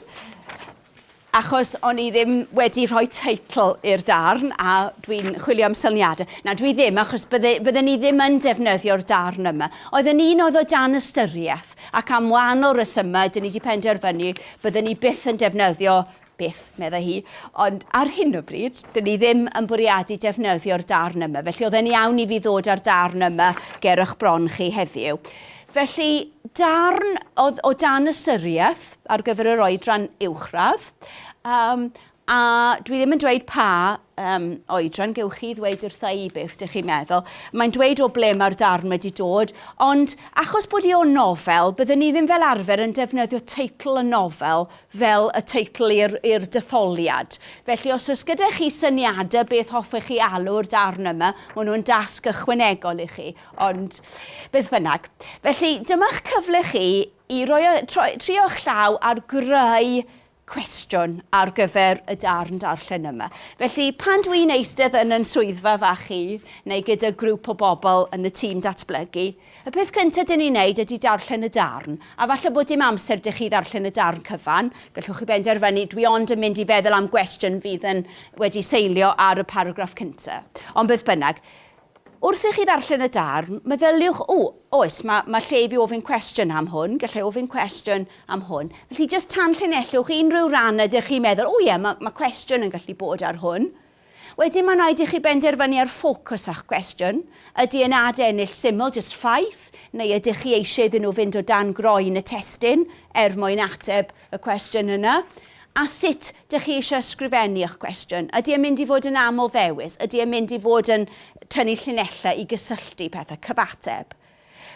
Achos o'n i ddim wedi rhoi teitl i'r darn a dwi'n chwilio am syniadau. Na, dwi ddim, achos bydde, bydden ni ddim yn defnyddio'r darn yma. Oedd yn un oedd o dan ystyriaeth, ac am wahanol resymau, dyn ni wedi penderfynu bydden ni byth yn defnyddio beth, meddai hi, ond ar hyn o bryd, dyn ni ddim yn bwriadu defnyddio'r darn yma, felly oedd e'n iawn i fi ddod â'r darn yma ger eich bron chi heddiw. Felly, darn oedd o dan ystyriaeth ar gyfer yr oedran uwchradd, um, a dwi ddim yn dweud pa um, oedran gewch chi ddweud wrtha i beth ydych chi'n meddwl. Mae'n dweud o ble mae'r darn wedi dod, ond achos bod i o'n nofel, byddwn ni ddim fel arfer yn defnyddio teitl y nofel fel y teitl i'r i'r detholiad. Felly os oes gyda chi syniadau beth hoffech chi alw'r darn yma, maen nhw'n dasg ychwanegol i chi, ond beth bynnag. Felly dyma'ch cyfle chi i roi y, troi, trio'ch llaw ar greu cwestiwn ar gyfer y darn darllen yma. Felly pan dwi'n eistedd yn yn swyddfa fach chi, neu gyda grŵp o bobl yn y tîm datblygu, Y peth cynta dyn ni'n neud ydi darllen y darn, a falle bod dim amser dych chi ddarllen y darn cyfan, gallwch chi benderfynu dwi ond yn mynd i feddwl am gwestiwn fydd yn wedi seilio ar y paragraff cynta. Ond beth bynnag, wrth i chi ddarllen y darn, meddyliwch, o, oes, mae ma lle i fi ofyn cwestiwn am hwn, gallai ofyn cwestiwn am hwn. Felly jyst tanllinellwch unrhyw ran ydych chi'n meddwl, o ie, mae ma cwestiwn yn gallu bod ar hwn. Wedyn mae'n rhaid i chi benderfynu ar ffocws a'ch cwestiwn. Ydy e'n ad ennill syml, jyst ffaith, neu ydych chi eisiau iddyn nhw fynd o dan groen y testun er mwyn ateb y cwestiwn yna? A sut dych chi eisiau ysgrifennu eich cwestiwn? Ydy e'n mynd i fod yn aml-ddewis? Ydy e'n mynd i fod yn tynnu llinellau i gysylltu pethau, cyfateb?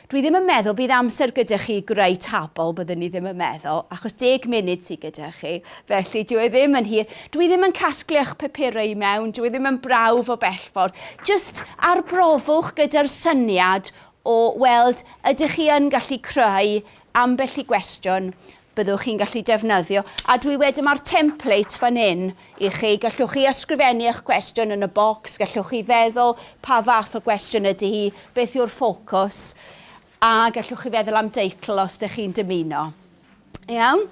Dwi ddim yn meddwl bydd amser gyda chi i greu tabl, byddwn i ddim yn meddwl, achos deg munud sydd gyda chi, felly dyw e ddim yn hir. Dwi ddim yn casglu eich papurau i mewn, dyw e ddim yn brawf o bell ffordd. Jyst arbrofwch gyda'r syniad o weld ydych chi yn gallu creu ambell i gwestiwn byddwch chi'n gallu defnyddio, a dwi wedi mae'r template fan hyn i chi, gallwch chi ysgrifennu eich cwestiwn yn y bocs, gallwch chi feddwl pa fath o gwestiwn ydy hi, beth yw'r ffocws, a gallwch chi feddwl am deitl os ydych chi'n dymuno. Iawn?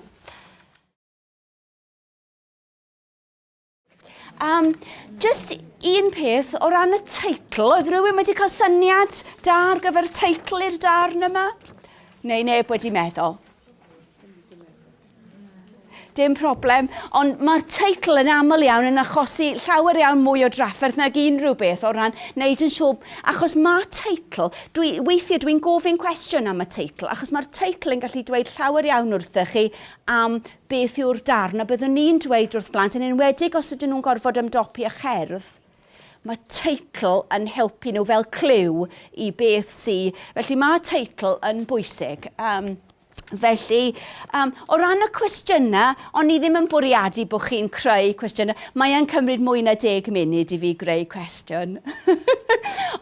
Um, just un peth o ran y teitl, oedd rhywun wedi cael syniad da ar gyfer y teitl i'r darn yma? Neu neb wedi meddwl? dim problem, ond mae'r teitl yn aml iawn yn achosi llawer iawn mwy o drafferth nag unrhyw beth o ran wneud yn siŵr, achos mae teitl, dwi, weithiau dwi'n gofyn cwestiwn am y teitl, achos mae'r teitl yn gallu dweud llawer iawn wrthych chi am Beth yw'r darn a byddwn ni'n dweud wrth blant, yn enwedig os ydyn nhw'n gorfod ymdopi â cherdd? Mae teitl yn helpu nhw fel clyw i beth sy... Felly mae teitl yn bwysig. Um, Felly, um, o ran y cwestiynau, o'n i ddim yn bwriadu bod chi'n creu cwestiynau. Mae e'n cymryd mwy na deg munud i fi greu cwestiwn.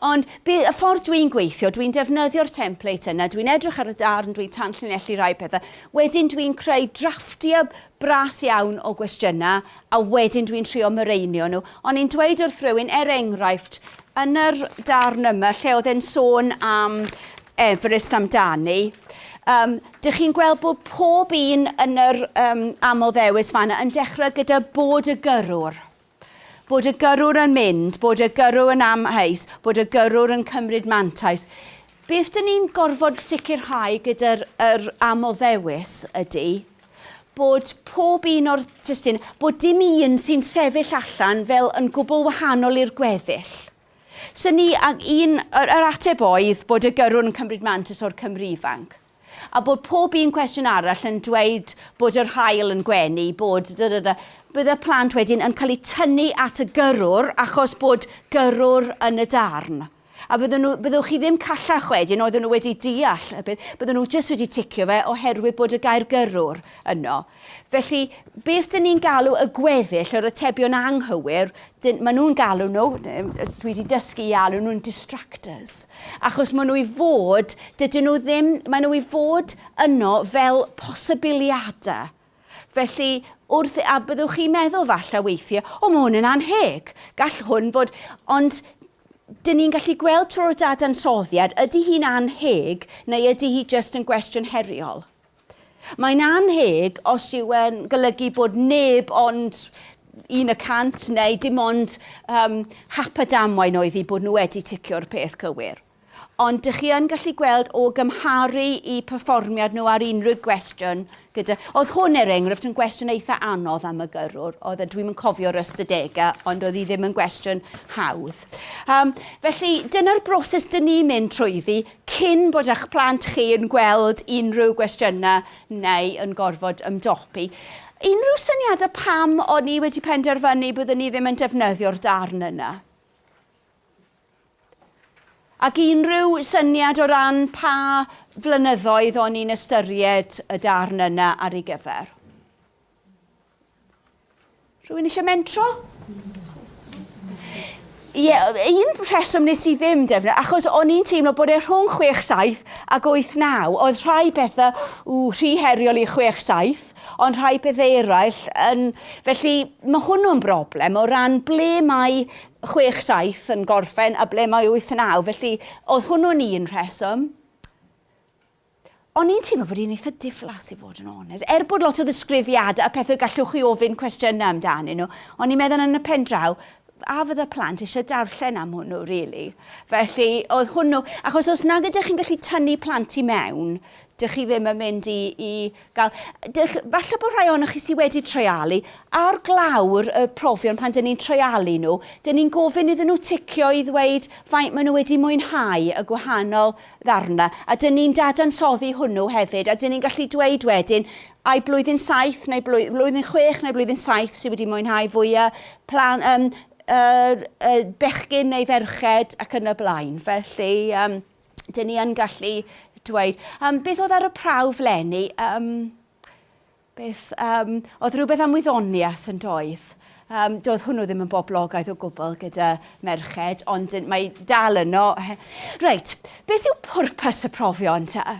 Ond y ffordd dwi'n gweithio, dwi'n defnyddio'r template yna, dwi'n edrych ar y darn, dwi'n tanllinellu rhai pethau. Wedyn dwi'n creu drafftiau bras iawn o gwestiynau a wedyn dwi'n trio mireinio nhw. O'n i'n dweud wrth rywun, er enghraifft, yn yr darn yma lle oedd e'n sôn am Everest amdani, um, dych chi'n gweld bod pob un yn yr um, amoddewis fanna yn dechrau gyda bod y gyrrwr. Bod y gyrrwr yn mynd, bod y gyrrwr yn amheus, bod y gyrrwr yn cymryd mantais. Beth dyn ni'n gorfod sicrhau gyda'r yr amoddewis ydy bod pob un o'r testun, bod dim un sy'n sefyll allan fel yn gwbl wahanol i'r gweddill. So ni, ac un, yr, yr ateb oedd bod y gyrrwr yn cymryd mantais o'r Cymru ifanc. a bod pob un cwestiwn arall yn dweud bod yr haul yn gwenu, bod da da da, bydd y plant wedyn yn cael eu tynnu at y gyrrwr achos bod gyrrwr yn y darn. A bydden nhw, byddwch chi ddim callach wedyn, oedden nhw wedi deall y peth, bydden nhw jyst wedi ticio fe oherwydd bod y gair gyrrwr yno. Felly, beth dyn ni'n galw y gweddill, yr atebion anghywir, dyn, maen nhw'n galw nhw, dwi wedi dysgu i alw nhw'n distractors, achos maen nhw i fod, dydyn nhw ddim, maen nhw i fod yno fel posibiliadau. Felly, wrth, a byddwch chi'n meddwl falle weithiau, o mae hwn yn anheg, gall hwn fod, ond dyn ni'n gallu gweld trwy'r dadansoddiad, ydy hi'n anheg neu ydy hi jyst yn gwestiwn heriol? Mae'n annheg os yw e'n golygu bod neb ond un y cant neu dim ond um, hap a damwain oedd hi bod nhw wedi ticio'r peth cywir. Ond dych chi yn gallu gweld o gymharu i perfformiad nhw ar unrhyw gwestiwn gyda... Oedd hwn er enghraifft yn gwestiwn eitha anodd am y gyrrwr, oedd e, dwi'm yn cofio'r ystadegau, ond oedd hi ddim yn gwestiwn hawdd. Um, felly, dyna'r broses dyn ni'n mynd trwyddi, Cyn bod â'ch plant chi yn gweld unrhyw gwestiynau neu yn gorfod ymdopi, unrhyw syniadau pam o'n i wedi penderfynu byddwn i ddim yn defnyddio'r darn yna? Ac unrhyw syniad o ran pa flynyddoedd o'n i'n ystyried y darn yna ar ei gyfer? Rwy'n eisiau mentro? Ie, un rheswm nes i ddim defnyddio, achos o'n i'n teimlo bod e rhwng 6-7 ac 8-9, oedd rhai pethau ww, rhy heriol i 6-7, ond rhai pethau eraill yn... Felly mae hwnnw'n broblem o ran ble mae 6-7 yn gorffen a ble mae 8-9, felly oedd hwnnw'n un rheswm. O'n i'n teimlo bod hi'n eitha diflas i fod yn onest. Er bod lot o ddisgrifiadau a pethau gallwch chi ofyn cwestiynau amdanyn nhw, o'n i'n meddwl yn y pen draw, a fydda plant eisiau darllen am hwnnw rili? Felly oedd hwnnw, achos os nag ydych chi'n gallu tynnu plant i mewn, dych chi ddim yn mynd i i Gall, dych, falle bod rhai ohonoch chi sydd wedi treialu, ar glawr y profion pan dyn ni'n treialu nhw, dyn ni'n gofyn iddyn nhw ticio i ddweud faint maen nhw wedi mwynhau y gwahanol ddarnau, a dyn ni'n dadansoddi hwnnw hefyd, a dyn ni'n gallu dweud wedyn, ai blwyddyn saith neu blwy, blwyddyn chwech neu blwyddyn saith sydd wedi mwynhau fwya, plan, um, uh, uh, bechgyn neu ferched ac yn y blaen. Felly, um, dyn ni yn gallu dweud, um, beth oedd ar y prawf lenni? Um, beth, um, oedd rhywbeth am wyddoniaeth yn doedd? Um, doedd hwnnw ddim yn boblogaidd o gwbl gyda merched, ond mae dal yno. Reit, beth yw pwrpas y profion ta?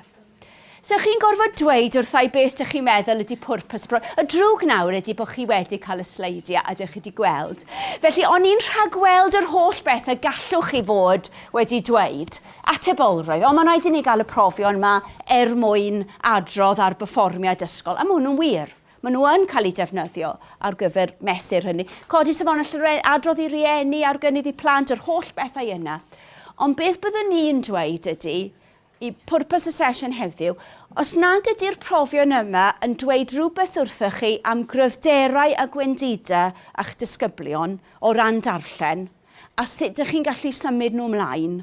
So chi'n gorfod dweud wrthai beth dych chi'n meddwl ydy pwrpas y bro. Y drwg nawr ydy bod chi wedi cael y sleidiau a dych chi wedi gweld. Felly, o'n i'n rhagweld yr holl beth y gallwch chi fod wedi dweud. Atebolrwydd. Ond mae'n rhaid i ni gael y profion yma er mwyn adrodd ar berfformiad ysgol. A mae hwnnw'n wir. Maen nhw yn cael eu defnyddio ar gyfer mesur hynny. Codi safonau llyre- adrodd i rieni ar gynnydd i plant, yr holl bethau yna. Ond beth byddwn i'n dweud ydy, Y pwrpas y sesiwn heddiw. Os nag ydy'r profion yma yn dweud rhywbeth wrthoch chi am gryfderau a gwendida â'ch disgyblion o ran darllen a sut dych chi'n gallu symud nhw ymlaen,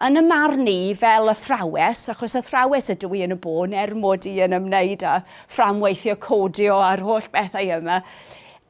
yn y marn i, fel athrawes, achos athrawes ydw i yn y bôn er mod i yn ymwneud â fframweithio codio a'r holl bethau yma,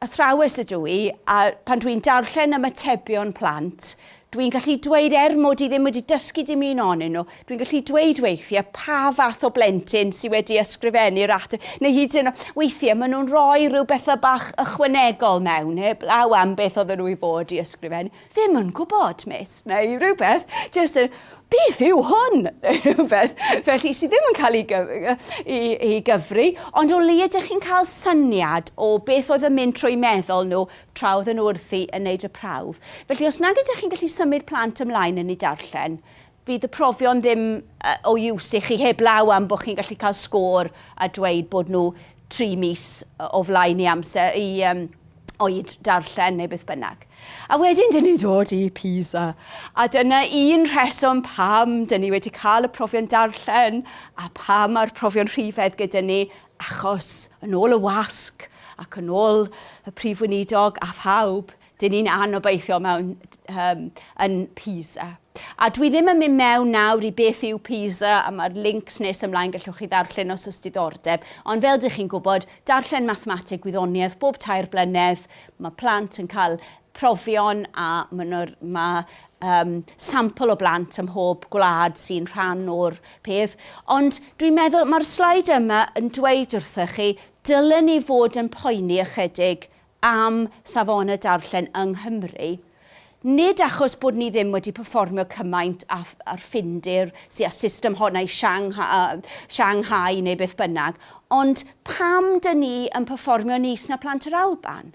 athrawes ydw i a pan dwi'n darllen ymatebion plant Dwi'n gallu dweud, er mod i ddim wedi dysgu dim un onyn nhw, dwi'n gallu dweud weithiau pa fath o blentyn sydd wedi ysgrifennu'r ateb, neu hyd yn oed, weithiau maen nhw'n rhoi rhyw bethau bach ychwanegol mewn, heblaw am beth oedden nhw i fod i ysgrifennu. Ddim yn gwybod, miss, neu rhywbeth, jyst yn, beth yw hwn? Neu rhywbeth, felly sydd ddim yn cael ei, gyf i, i gyfri, ond o leia ydych chi'n cael syniad o beth oedd yn mynd trwy meddwl nhw tra oedden nhw wrthi yn wneud y prawf. Felly, os nag ydych chi'n gallu symud plant ymlaen yn eu darllen, fydd y profion ddim o use i chi heblaw am bod chi'n gallu cael sgôr a dweud bod nhw tri mis o flaen i amser i um, oed darllen neu beth bynnag. A wedyn dyn ni'n dod i PISA. A dyna un rheswm pam dyn ni wedi cael y profion darllen a pam mae'r profion rhifedd gyda ni Achos, yn ôl y wasg, ac yn ôl y Prif Weinidog a phawb, dyn ni'n anobeithio mewn um, yn PISA. A dwi ddim yn mynd mewn nawr i beth yw PISA a mae'r links nes ymlaen gallwch chi ddarllen os oes diddordeb. Ond fel dych chi'n gwybod, darllen mathemateg gwyddoniaeth bob tair blynedd, mae plant yn cael profion a mynwr, mae um, sampl o blant ym mhob gwlad sy'n rhan o'r peth, ond dwi'n meddwl mae'r slaid yma yn dweud wrthych chi, dylen ni fod yn poeni ychydig am safonau darllen yng Nghymru, nid achos bod ni ddim wedi performio cymaint â'r Ffindir sy'n a system hon a'i Shanghai neu beth bynnag, ond pam dyn ni yn performio nis na plant yr Alban?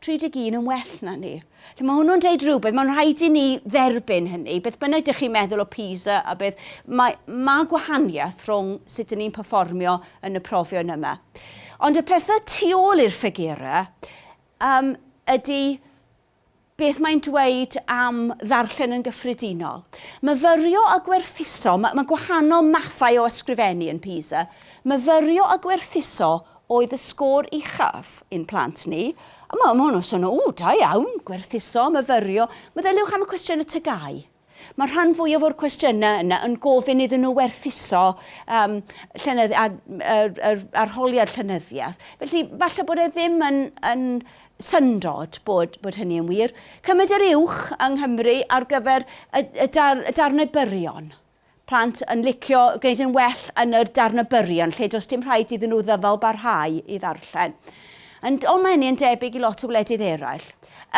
31 yn well na ni. Felly mae hwnnw'n deud rhywbeth, mae'n rhaid i ni dderbyn hynny, beth bynnag dych chi'n meddwl o PISA a beth, mae, mae gwahaniaeth rhwng sut dyn ni'n perfformio yn y profion yma. Ond y pethau tu ôl i'r ffigurau um, ydy beth mae'n dweud am ddarllen yn gyffredinol. Myfyrio a gwerthuso, mae, mae gwahanol mathau o ysgrifennu yn PISA, myfyrio a gwerthuso oedd y sgôr uchaf i'n plant ni. A ma' ma' hwnnw'n swnio, ww, da iawn, gwerthuso, myfyrio. Meddyliwch am y cwestiynau TGAU. Mae rhan fwyaf o'r cwestiynau yna yn gofyn iddyn nhw werthuso um, llenyddi, a, ar, ar, arholiad llenyddiaeth. Felly, falle bod e ddim yn, yn syndod bod, bod hynny yn wir. Cymaint yr uwch yng Nghymru ar gyfer y, y, dar, y darnau byrion. Plant yn licio gwneud yn well yn yr darn o byrion lle does dim rhaid iddyn nhw ddyfal barhau i ddarllen. Ond ond mae hynny yn debyg i lot o wledydd eraill.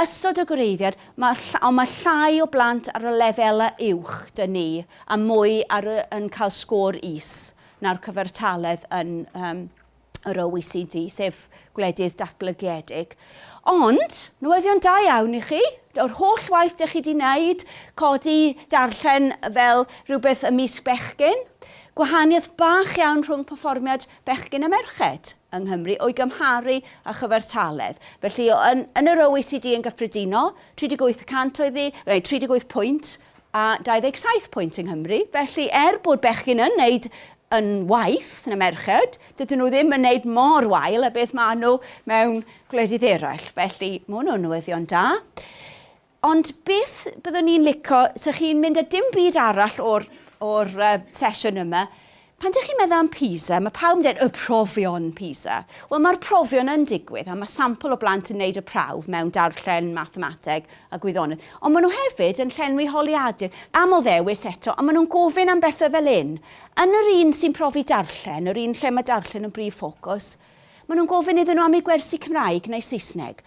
Ystod o gwreiddiad, mae ll ond mae llai o blant ar y lefelau uwch dŷn ni a mwy ar y yn cael sgôr is na'r cyfartaledd yn yym yr OECD, sef gwledydd datblygiedig. Ond, newyddion da iawn i chi, yr holl waith dych chi wedi wneud, codi darllen fel rhywbeth ymysg bechgyn, gwahaniaeth bach iawn rhwng perfformiad bechgyn a merched yng Nghymru o'i gymharu â chyfartaledd. Felly, yn, yn yr OECD yn gyffredinol, 38 y cant oedd hi, neu 38 pwynt, a 27 pwynt yng Nghymru, felly er bod bechgyn yn wneud yn waeth na merched, dydyn nhw ddim yn wneud mor wael a beth maen nhw mewn gwledydd eraill, felly mae hwnnw yn newyddion da. Ond beth byddwn i'n lico, 'sa chi'n mynd â dim byd arall o'r, o'r uh, sesiwn yma, Pan dych chi'n meddwl am PISA, mae pawb yn dweud, y profion PISA. Wel, mae'r profion yn digwydd, a mae sampl o blant yn gwneud y prawf mewn darllen, mathemateg a gwyddoniaeth. Ond maen nhw hefyd yn llenwi holiadur, aml ddewis eto, a maen nhw'n gofyn am bethau fel hyn. Yn yr un sy'n profi darllen, yr un lle mae darllen yn brif ffocws, maen nhw'n gofyn iddyn nhw am eu gwersi Cymraeg neu Saesneg.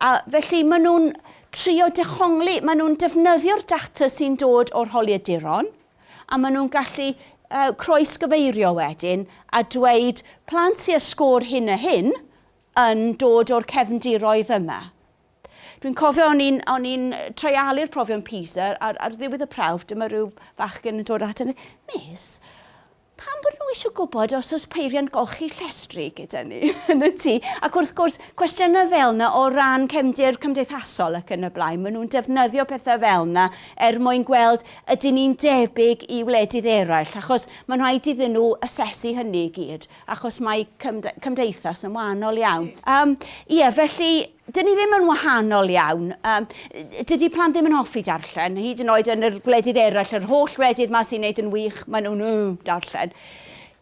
A felly maen nhw'n trio dehongli, maen nhw'n defnyddio'r data sy'n dod o'r holiaduron, a maen nhw'n gallu yy croesgyfeirio wedyn a dweud plant sy â sgôr hyn a hyn yn dod o'r cefndiroedd yma. Dwi'n cofio o'n i'n o'n i'n treialu'r profion PISA ar ar ddiwedd y prawf, dyma ryw fachgen yn dod ata fi, Miss, Pam bod nhw eisiau gwybod os oes peiriant golchi llestri gyda ni yn y tŷ? Ac wrth gwrs, cwestiynau fel yna o ran cefndir cymdeithasol ac yn y blaen, maen nhw'n defnyddio pethau fel yna er mwyn gweld ydyn ni'n debyg i wledydd eraill, achos mae'n rhaid iddyn nhw asesu hynny i gyd, achos mae cymdeithas yn wahanol iawn. Ie, felly, Dyn ni ddim yn wahanol iawn. Yym, dydy plant ddim yn hoffi darllen, hyd yn oed yn yr gwledydd eraill, yr holl wledydd 'ma sy'n neud yn wych, maen nhw'n yy darllen.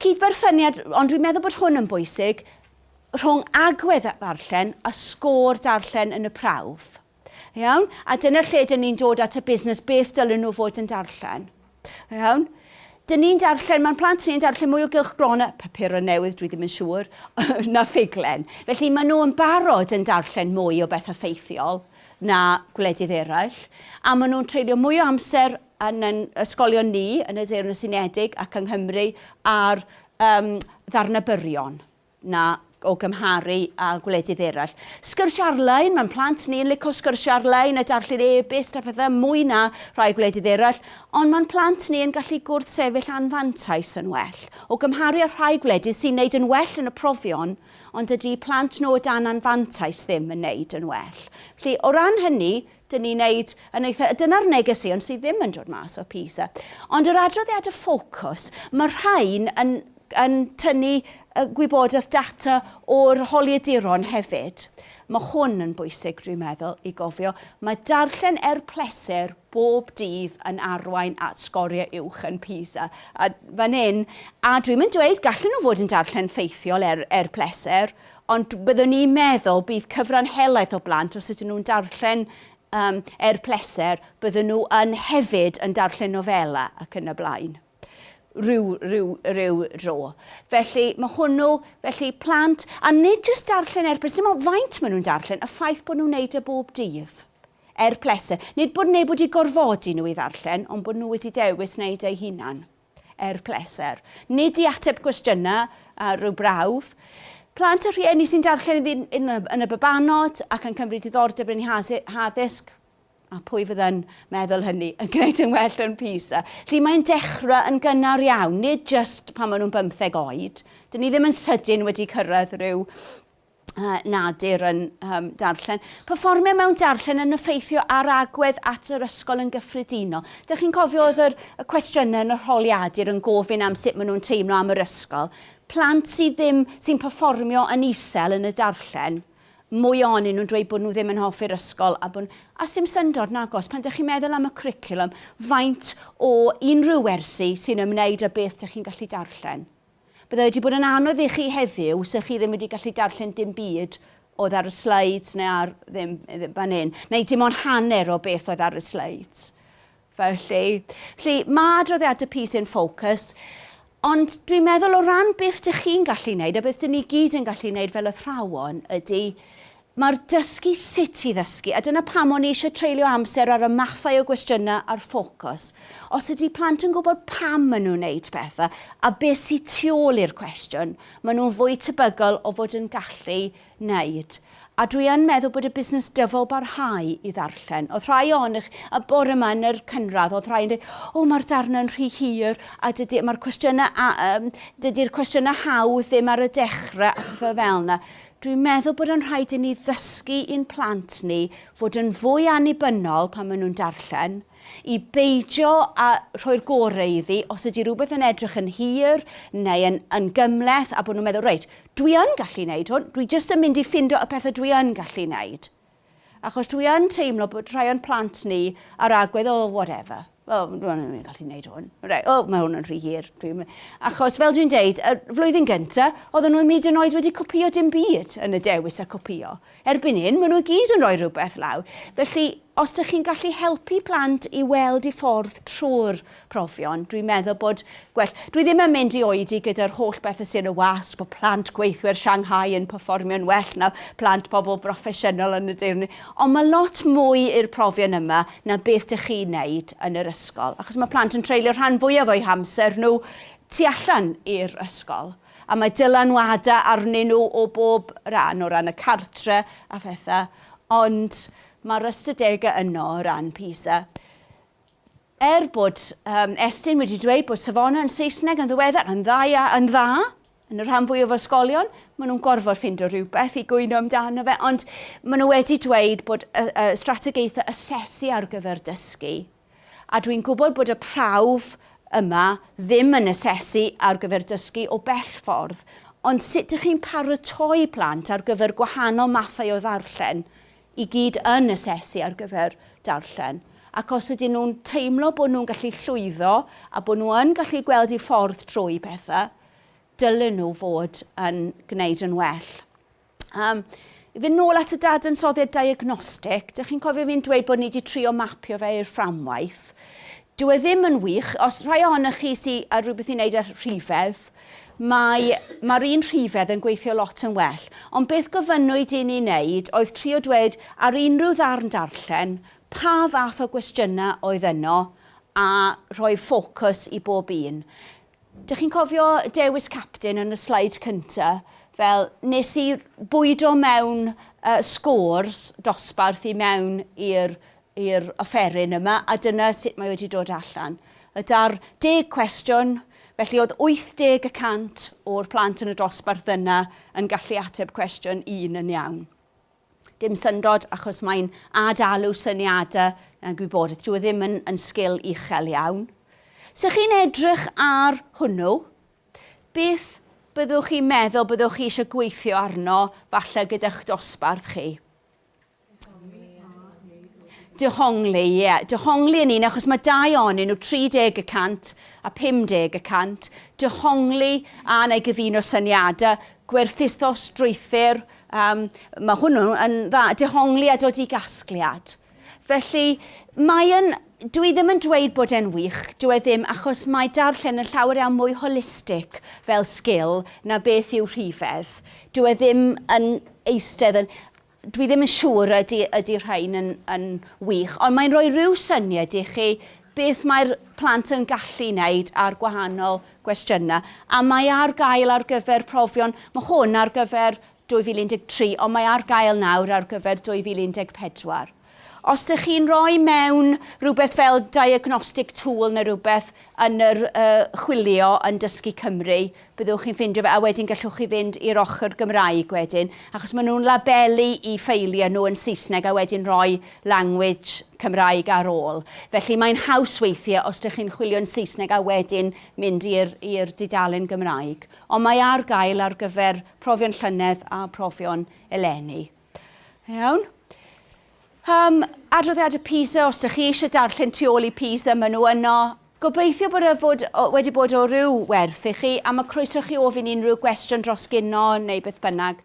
Cydberthyniad, ond dwi'n meddwl bod hwn yn bwysig, rhwng agwedd ddarllen a sgôr darllen yn y prawf. Iawn? A dyna lle dyn ni'n dod at y busnes, beth dylen nhw fod yn darllen. Iawn. Dyn ni'n darllen, mae'n plant ni'n darllen mwy o gylch gron a papurau newydd, dwi ddim yn siŵr, na ffuglen. Felly maen nhw yn barod yn darllen mwy o bethau ffeithiol na gwledydd eraill, a maen nhw'n treulio mwy o amser yn yn ysgolion ni yn y Deyrnas Unedig ac yng Nghymru ar um, ddarnau byrion. na o gymharu â gwledydd eraill. Sgyrsiau ar-lein, mae'n plant ni yn lico sgyrsiau ar-lein a darllen e-byst a phethau mwy na rhai gwledydd eraill, ond mae'n plant ni yn gallu gwrthsefyll anfantais yn well o gymharu â rhai gwledydd sy'n neud yn well yn y profion, ond dydy plant nhw o dan anfantais ddim yn neud yn well. Felly, o ran hynny, Dyn ni'n neud yn eitha'... Dyna'r negeseuon sydd ddim yn dod mas o PISA. Ond yr adroddiad y ffocws, mae'r rhain yn yn tynnu y gwybodaeth data o'r holiaduron hefyd. Mae hwn yn bwysig, dwi'n meddwl, i gofio. Mae darllen er pleser bob dydd yn arwain at sgoriau uwch yn PISA. A fan hyn, a dwi'm yn dweud gallen nhw fod yn darllen ffeithiol er er pleser, Ond byddwn i'n meddwl bydd cyfran helaeth o blant, os ydyn nhw'n darllen um, er pleser, byddwn nhw yn hefyd yn darllen nofela ac yn y blaen rhyw, rhyw, rhyw dro. Felly mae hwnnw, felly plant, a nid jyst darllen er pleser, dim ond faint maen nhw'n darllen, y ffaith bod nhw'n neud y e bob dydd er pleser. Nid bod neb wedi gorfodi nhw i ddarllen, ond bod nhw wedi dewis wneud eu hunan. Er pleser. Nid i ateb cwestiynau a rhyw brawf. Plant a rhieni sy'n darllen iddyn yn y babanod ac yn cymryd diddordeb yn eu haddysg, a pwy fydda'n meddwl hynny, yn gwneud yn well yn PISA. Felly mae'n dechrau yn gynnar iawn, nid jyst pan maen nhw'n bymtheg oed. Dyn ni ddim yn sydyn wedi cyrraedd rhyw nad yr yn um, darllen. Perfformio mewn darllen yn effeithio ar agwedd at yr ysgol yn gyffredinol. Dych chi'n cofio oedd yr, y cwestiynau yn y rholiadur yn gofyn am sut maen nhw'n teimlo am yr ysgol. Plant sydd ddim, sy'n perfformio yn isel yn y darllen, mwy onyn nhw'n dweud bod nhw ddim yn hoffi'r ysgol a bod a sy'n syndod nagos pan dych chi'n meddwl am y cwricwlwm faint o unrhyw wersi sy'n ymwneud â beth dych chi'n gallu darllen. Byddai wedi bod yn anodd i chi heddiw 'sech chi ddim wedi gallu darllen dim byd oedd ar y sleids neu ar, ddim, ddim fan hyn, neu dim ond hanner o beth oedd ar y sleids. Felly, felly mae adroddiadau PISA yn ffocws, ond dwi'n meddwl o ran beth dych chi'n gallu wneud a beth dyn ni gyd yn gallu wneud fel athrawon ydy Mae'r dysgu sut i ddysgu, a dyna pam o'n i eisiau treulio amser ar y mathau o gwestiynau a'r ffocws. Os ydy plant yn gwybod pam maen nhw'n wneud pethau a beth sydd tu ôl i'r cwestiwn, maen nhw'n fwy tebygol o fod yn gallu wneud. A dwi yn meddwl bod y busnes dyfal barhau i ddarllen. Oedd rhai ohonych, a bore yma yn yr cynradd, oedd rhai yn dweud, o mae'r darnau yn rhy hir, a dydy, mae'r cwestiynau, a, um, dydy'r cwestiynau hawdd ddim ar y dechrau, a pethau fel yna. Dwi'n meddwl bod yn rhaid i ni ddysgu i'n plant ni fod yn fwy annibynnol pan maen nhw'n darllen, i beidio â rhoi'r gorau iddi os ydy rhywbeth yn edrych yn hir neu yn, yn gymhleth a bod nhw'n meddwl, reit, dwi yn gallu wneud hwn, dwi jyst yn mynd i ffindo y pethau dwi yn gallu wneud. Achos dwi yn teimlo bod rhai o'n plant ni ar agwedd, oh, whatever. Oh, rwan ni'n ni'n gallu neud hwn. Right, oh, mae hwn yn rhy hir. Dwi'n... Achos, fel dwi'n deud, y flwyddyn gynta, oedden nhw ddim hyd yn oed wedi copio dim byd yn y dewis a copio. Erbyn hyn, maen nhw gyd yn rhoi rhywbeth lawr. Felly, os ydych chi'n gallu helpu plant i weld i ffordd trwy'r profion. Dwi'n meddwl bod gwell... Dwi ddim yn mynd i oedi gyda'r holl bethau sy'n y wasg, bod plant gweithwyr Shanghai yn perfformio'n well na plant pobl broffesiynol yn y De Uned. Ond mae lot mwy i'r profion yma na beth dych chi'n wneud yn yr ysgol. Achos mae plant yn treulio rhan fwyaf o'u hamser nhw tu allan i'r ysgol. A mae dylanwadau arnyn nhw o bob ran, o ran y cartre a phethau. Ond mae'r ystadegau yno o ran PISA. Er bod um, Estyn wedi dweud bod safonau yn Saesneg yn ddiweddar yn dda, yn dda yn y rhan fwy o ysgolion, maen nhw'n gorfod ffindo rhywbeth i gwyno amdano fe, ond maen nhw wedi dweud bod y, y strategaethau asesu ar gyfer dysgu. A dwi'n gwybod bod y prawf yma ddim yn asesu ar gyfer dysgu o bell ffordd, ond sut ydych chi'n paratoi plant ar gyfer gwahanol mathau o ddarllen? i gyd yn asesu ar gyfer darllen, ac os ydyn nhw'n teimlo bod nhw'n gallu llwyddo a bod nhw yn gallu gweld eu ffordd trwy pethau, dylen nhw fod yn gwneud yn well. Um, i fynd nôl at y dadansoddiad diagnostig, dych chi'n cofio fi'n dweud bod ni wedi trio mapio fe i'r fframwaith. Dwi e ddim yn wych, os rhai ohonych chi sydd ar rhywbeth i wneud â rhifedd, Mae, mae'r un rhifedd yn gweithio lot yn well. Ond beth gofynnwyd i ni wneud oedd trio dweud ar unrhyw ddarn darllen pa fath o gwestiynau oedd yno a rhoi ffocws i bob un. Dych chi'n cofio dewis capten yn y sleid cynta'? Wel, nes i bwydo mewn yy scores dosbarth i mewn i'r i'r offeryn yma, a dyna sut mae wedi dod allan. Y 60 cwestiwn, felly oedd 80 y cant o'r plant yn y dosbarth yna yn gallu ateb cwestiwn un yn iawn. Dim syndod, achos mae'n ad-alw syniadau a gwybodaeth. Dyw e ddim yn, yn sgil uchel iawn. So chi'n edrych ar hwnnw, beth byddwch chi'n meddwl byddwch chi eisiau gweithio arno, falle gyda'ch dosbarth chi? Dehongli, ie. Yeah. Dehongli yn un, achos mae dau onyn nhw, 30 y cant a 50 y cant. Dehongli a na i gyfuno syniadau, gwerthuso strwythyr, um, mae hwnnw yn dda, dehongli a dod i gasgliad. Felly, mae'n, dwi ddim yn dweud bod e'n wych, dwi e ddim, achos mae darllen yn llawer iawn mwy holistig fel sgil na beth yw rhifedd. Dwi e ddim yn eistedd yn... Dwi ddim yn siŵr ydy, ydy rhain yn, yn wych, ond mae'n rhoi rhyw syniad i chi beth mae'r plant yn gallu wneud ar gwahanol gwestiynau. A mae ar gael ar gyfer profion, mae hwn ar gyfer 2013, ond mae ar gael nawr ar gyfer 2014. Os dych chi'n rhoi mewn rhywbeth fel diagnostic tool neu rhywbeth yn yr uh, chwilio yn Dysgu Cymru, byddwch chi'n ffindio fe, a wedyn gallwch chi fynd i'r ochr Gymraeg wedyn, achos maen nhw'n labelu i ffeiliau nhw yn Saesneg a wedyn rhoi language Cymraeg ar ôl. Felly mae'n haws weithiau os dych chi'n chwilio'n Saesneg a wedyn mynd i'r dudalen Gymraeg. Ond mae ar gael ar gyfer profion llynedd a profion eleni. Iawn. Um, adroddiadau PISA, os ydych chi eisiau darllen tu ôl i PISA, maen nhw yno. Gobeithio bod y fod, wedi bod o ryw werth i chi, a mae croeso chi ofyn unrhyw gwestiwn dros gyno neu beth bynnag.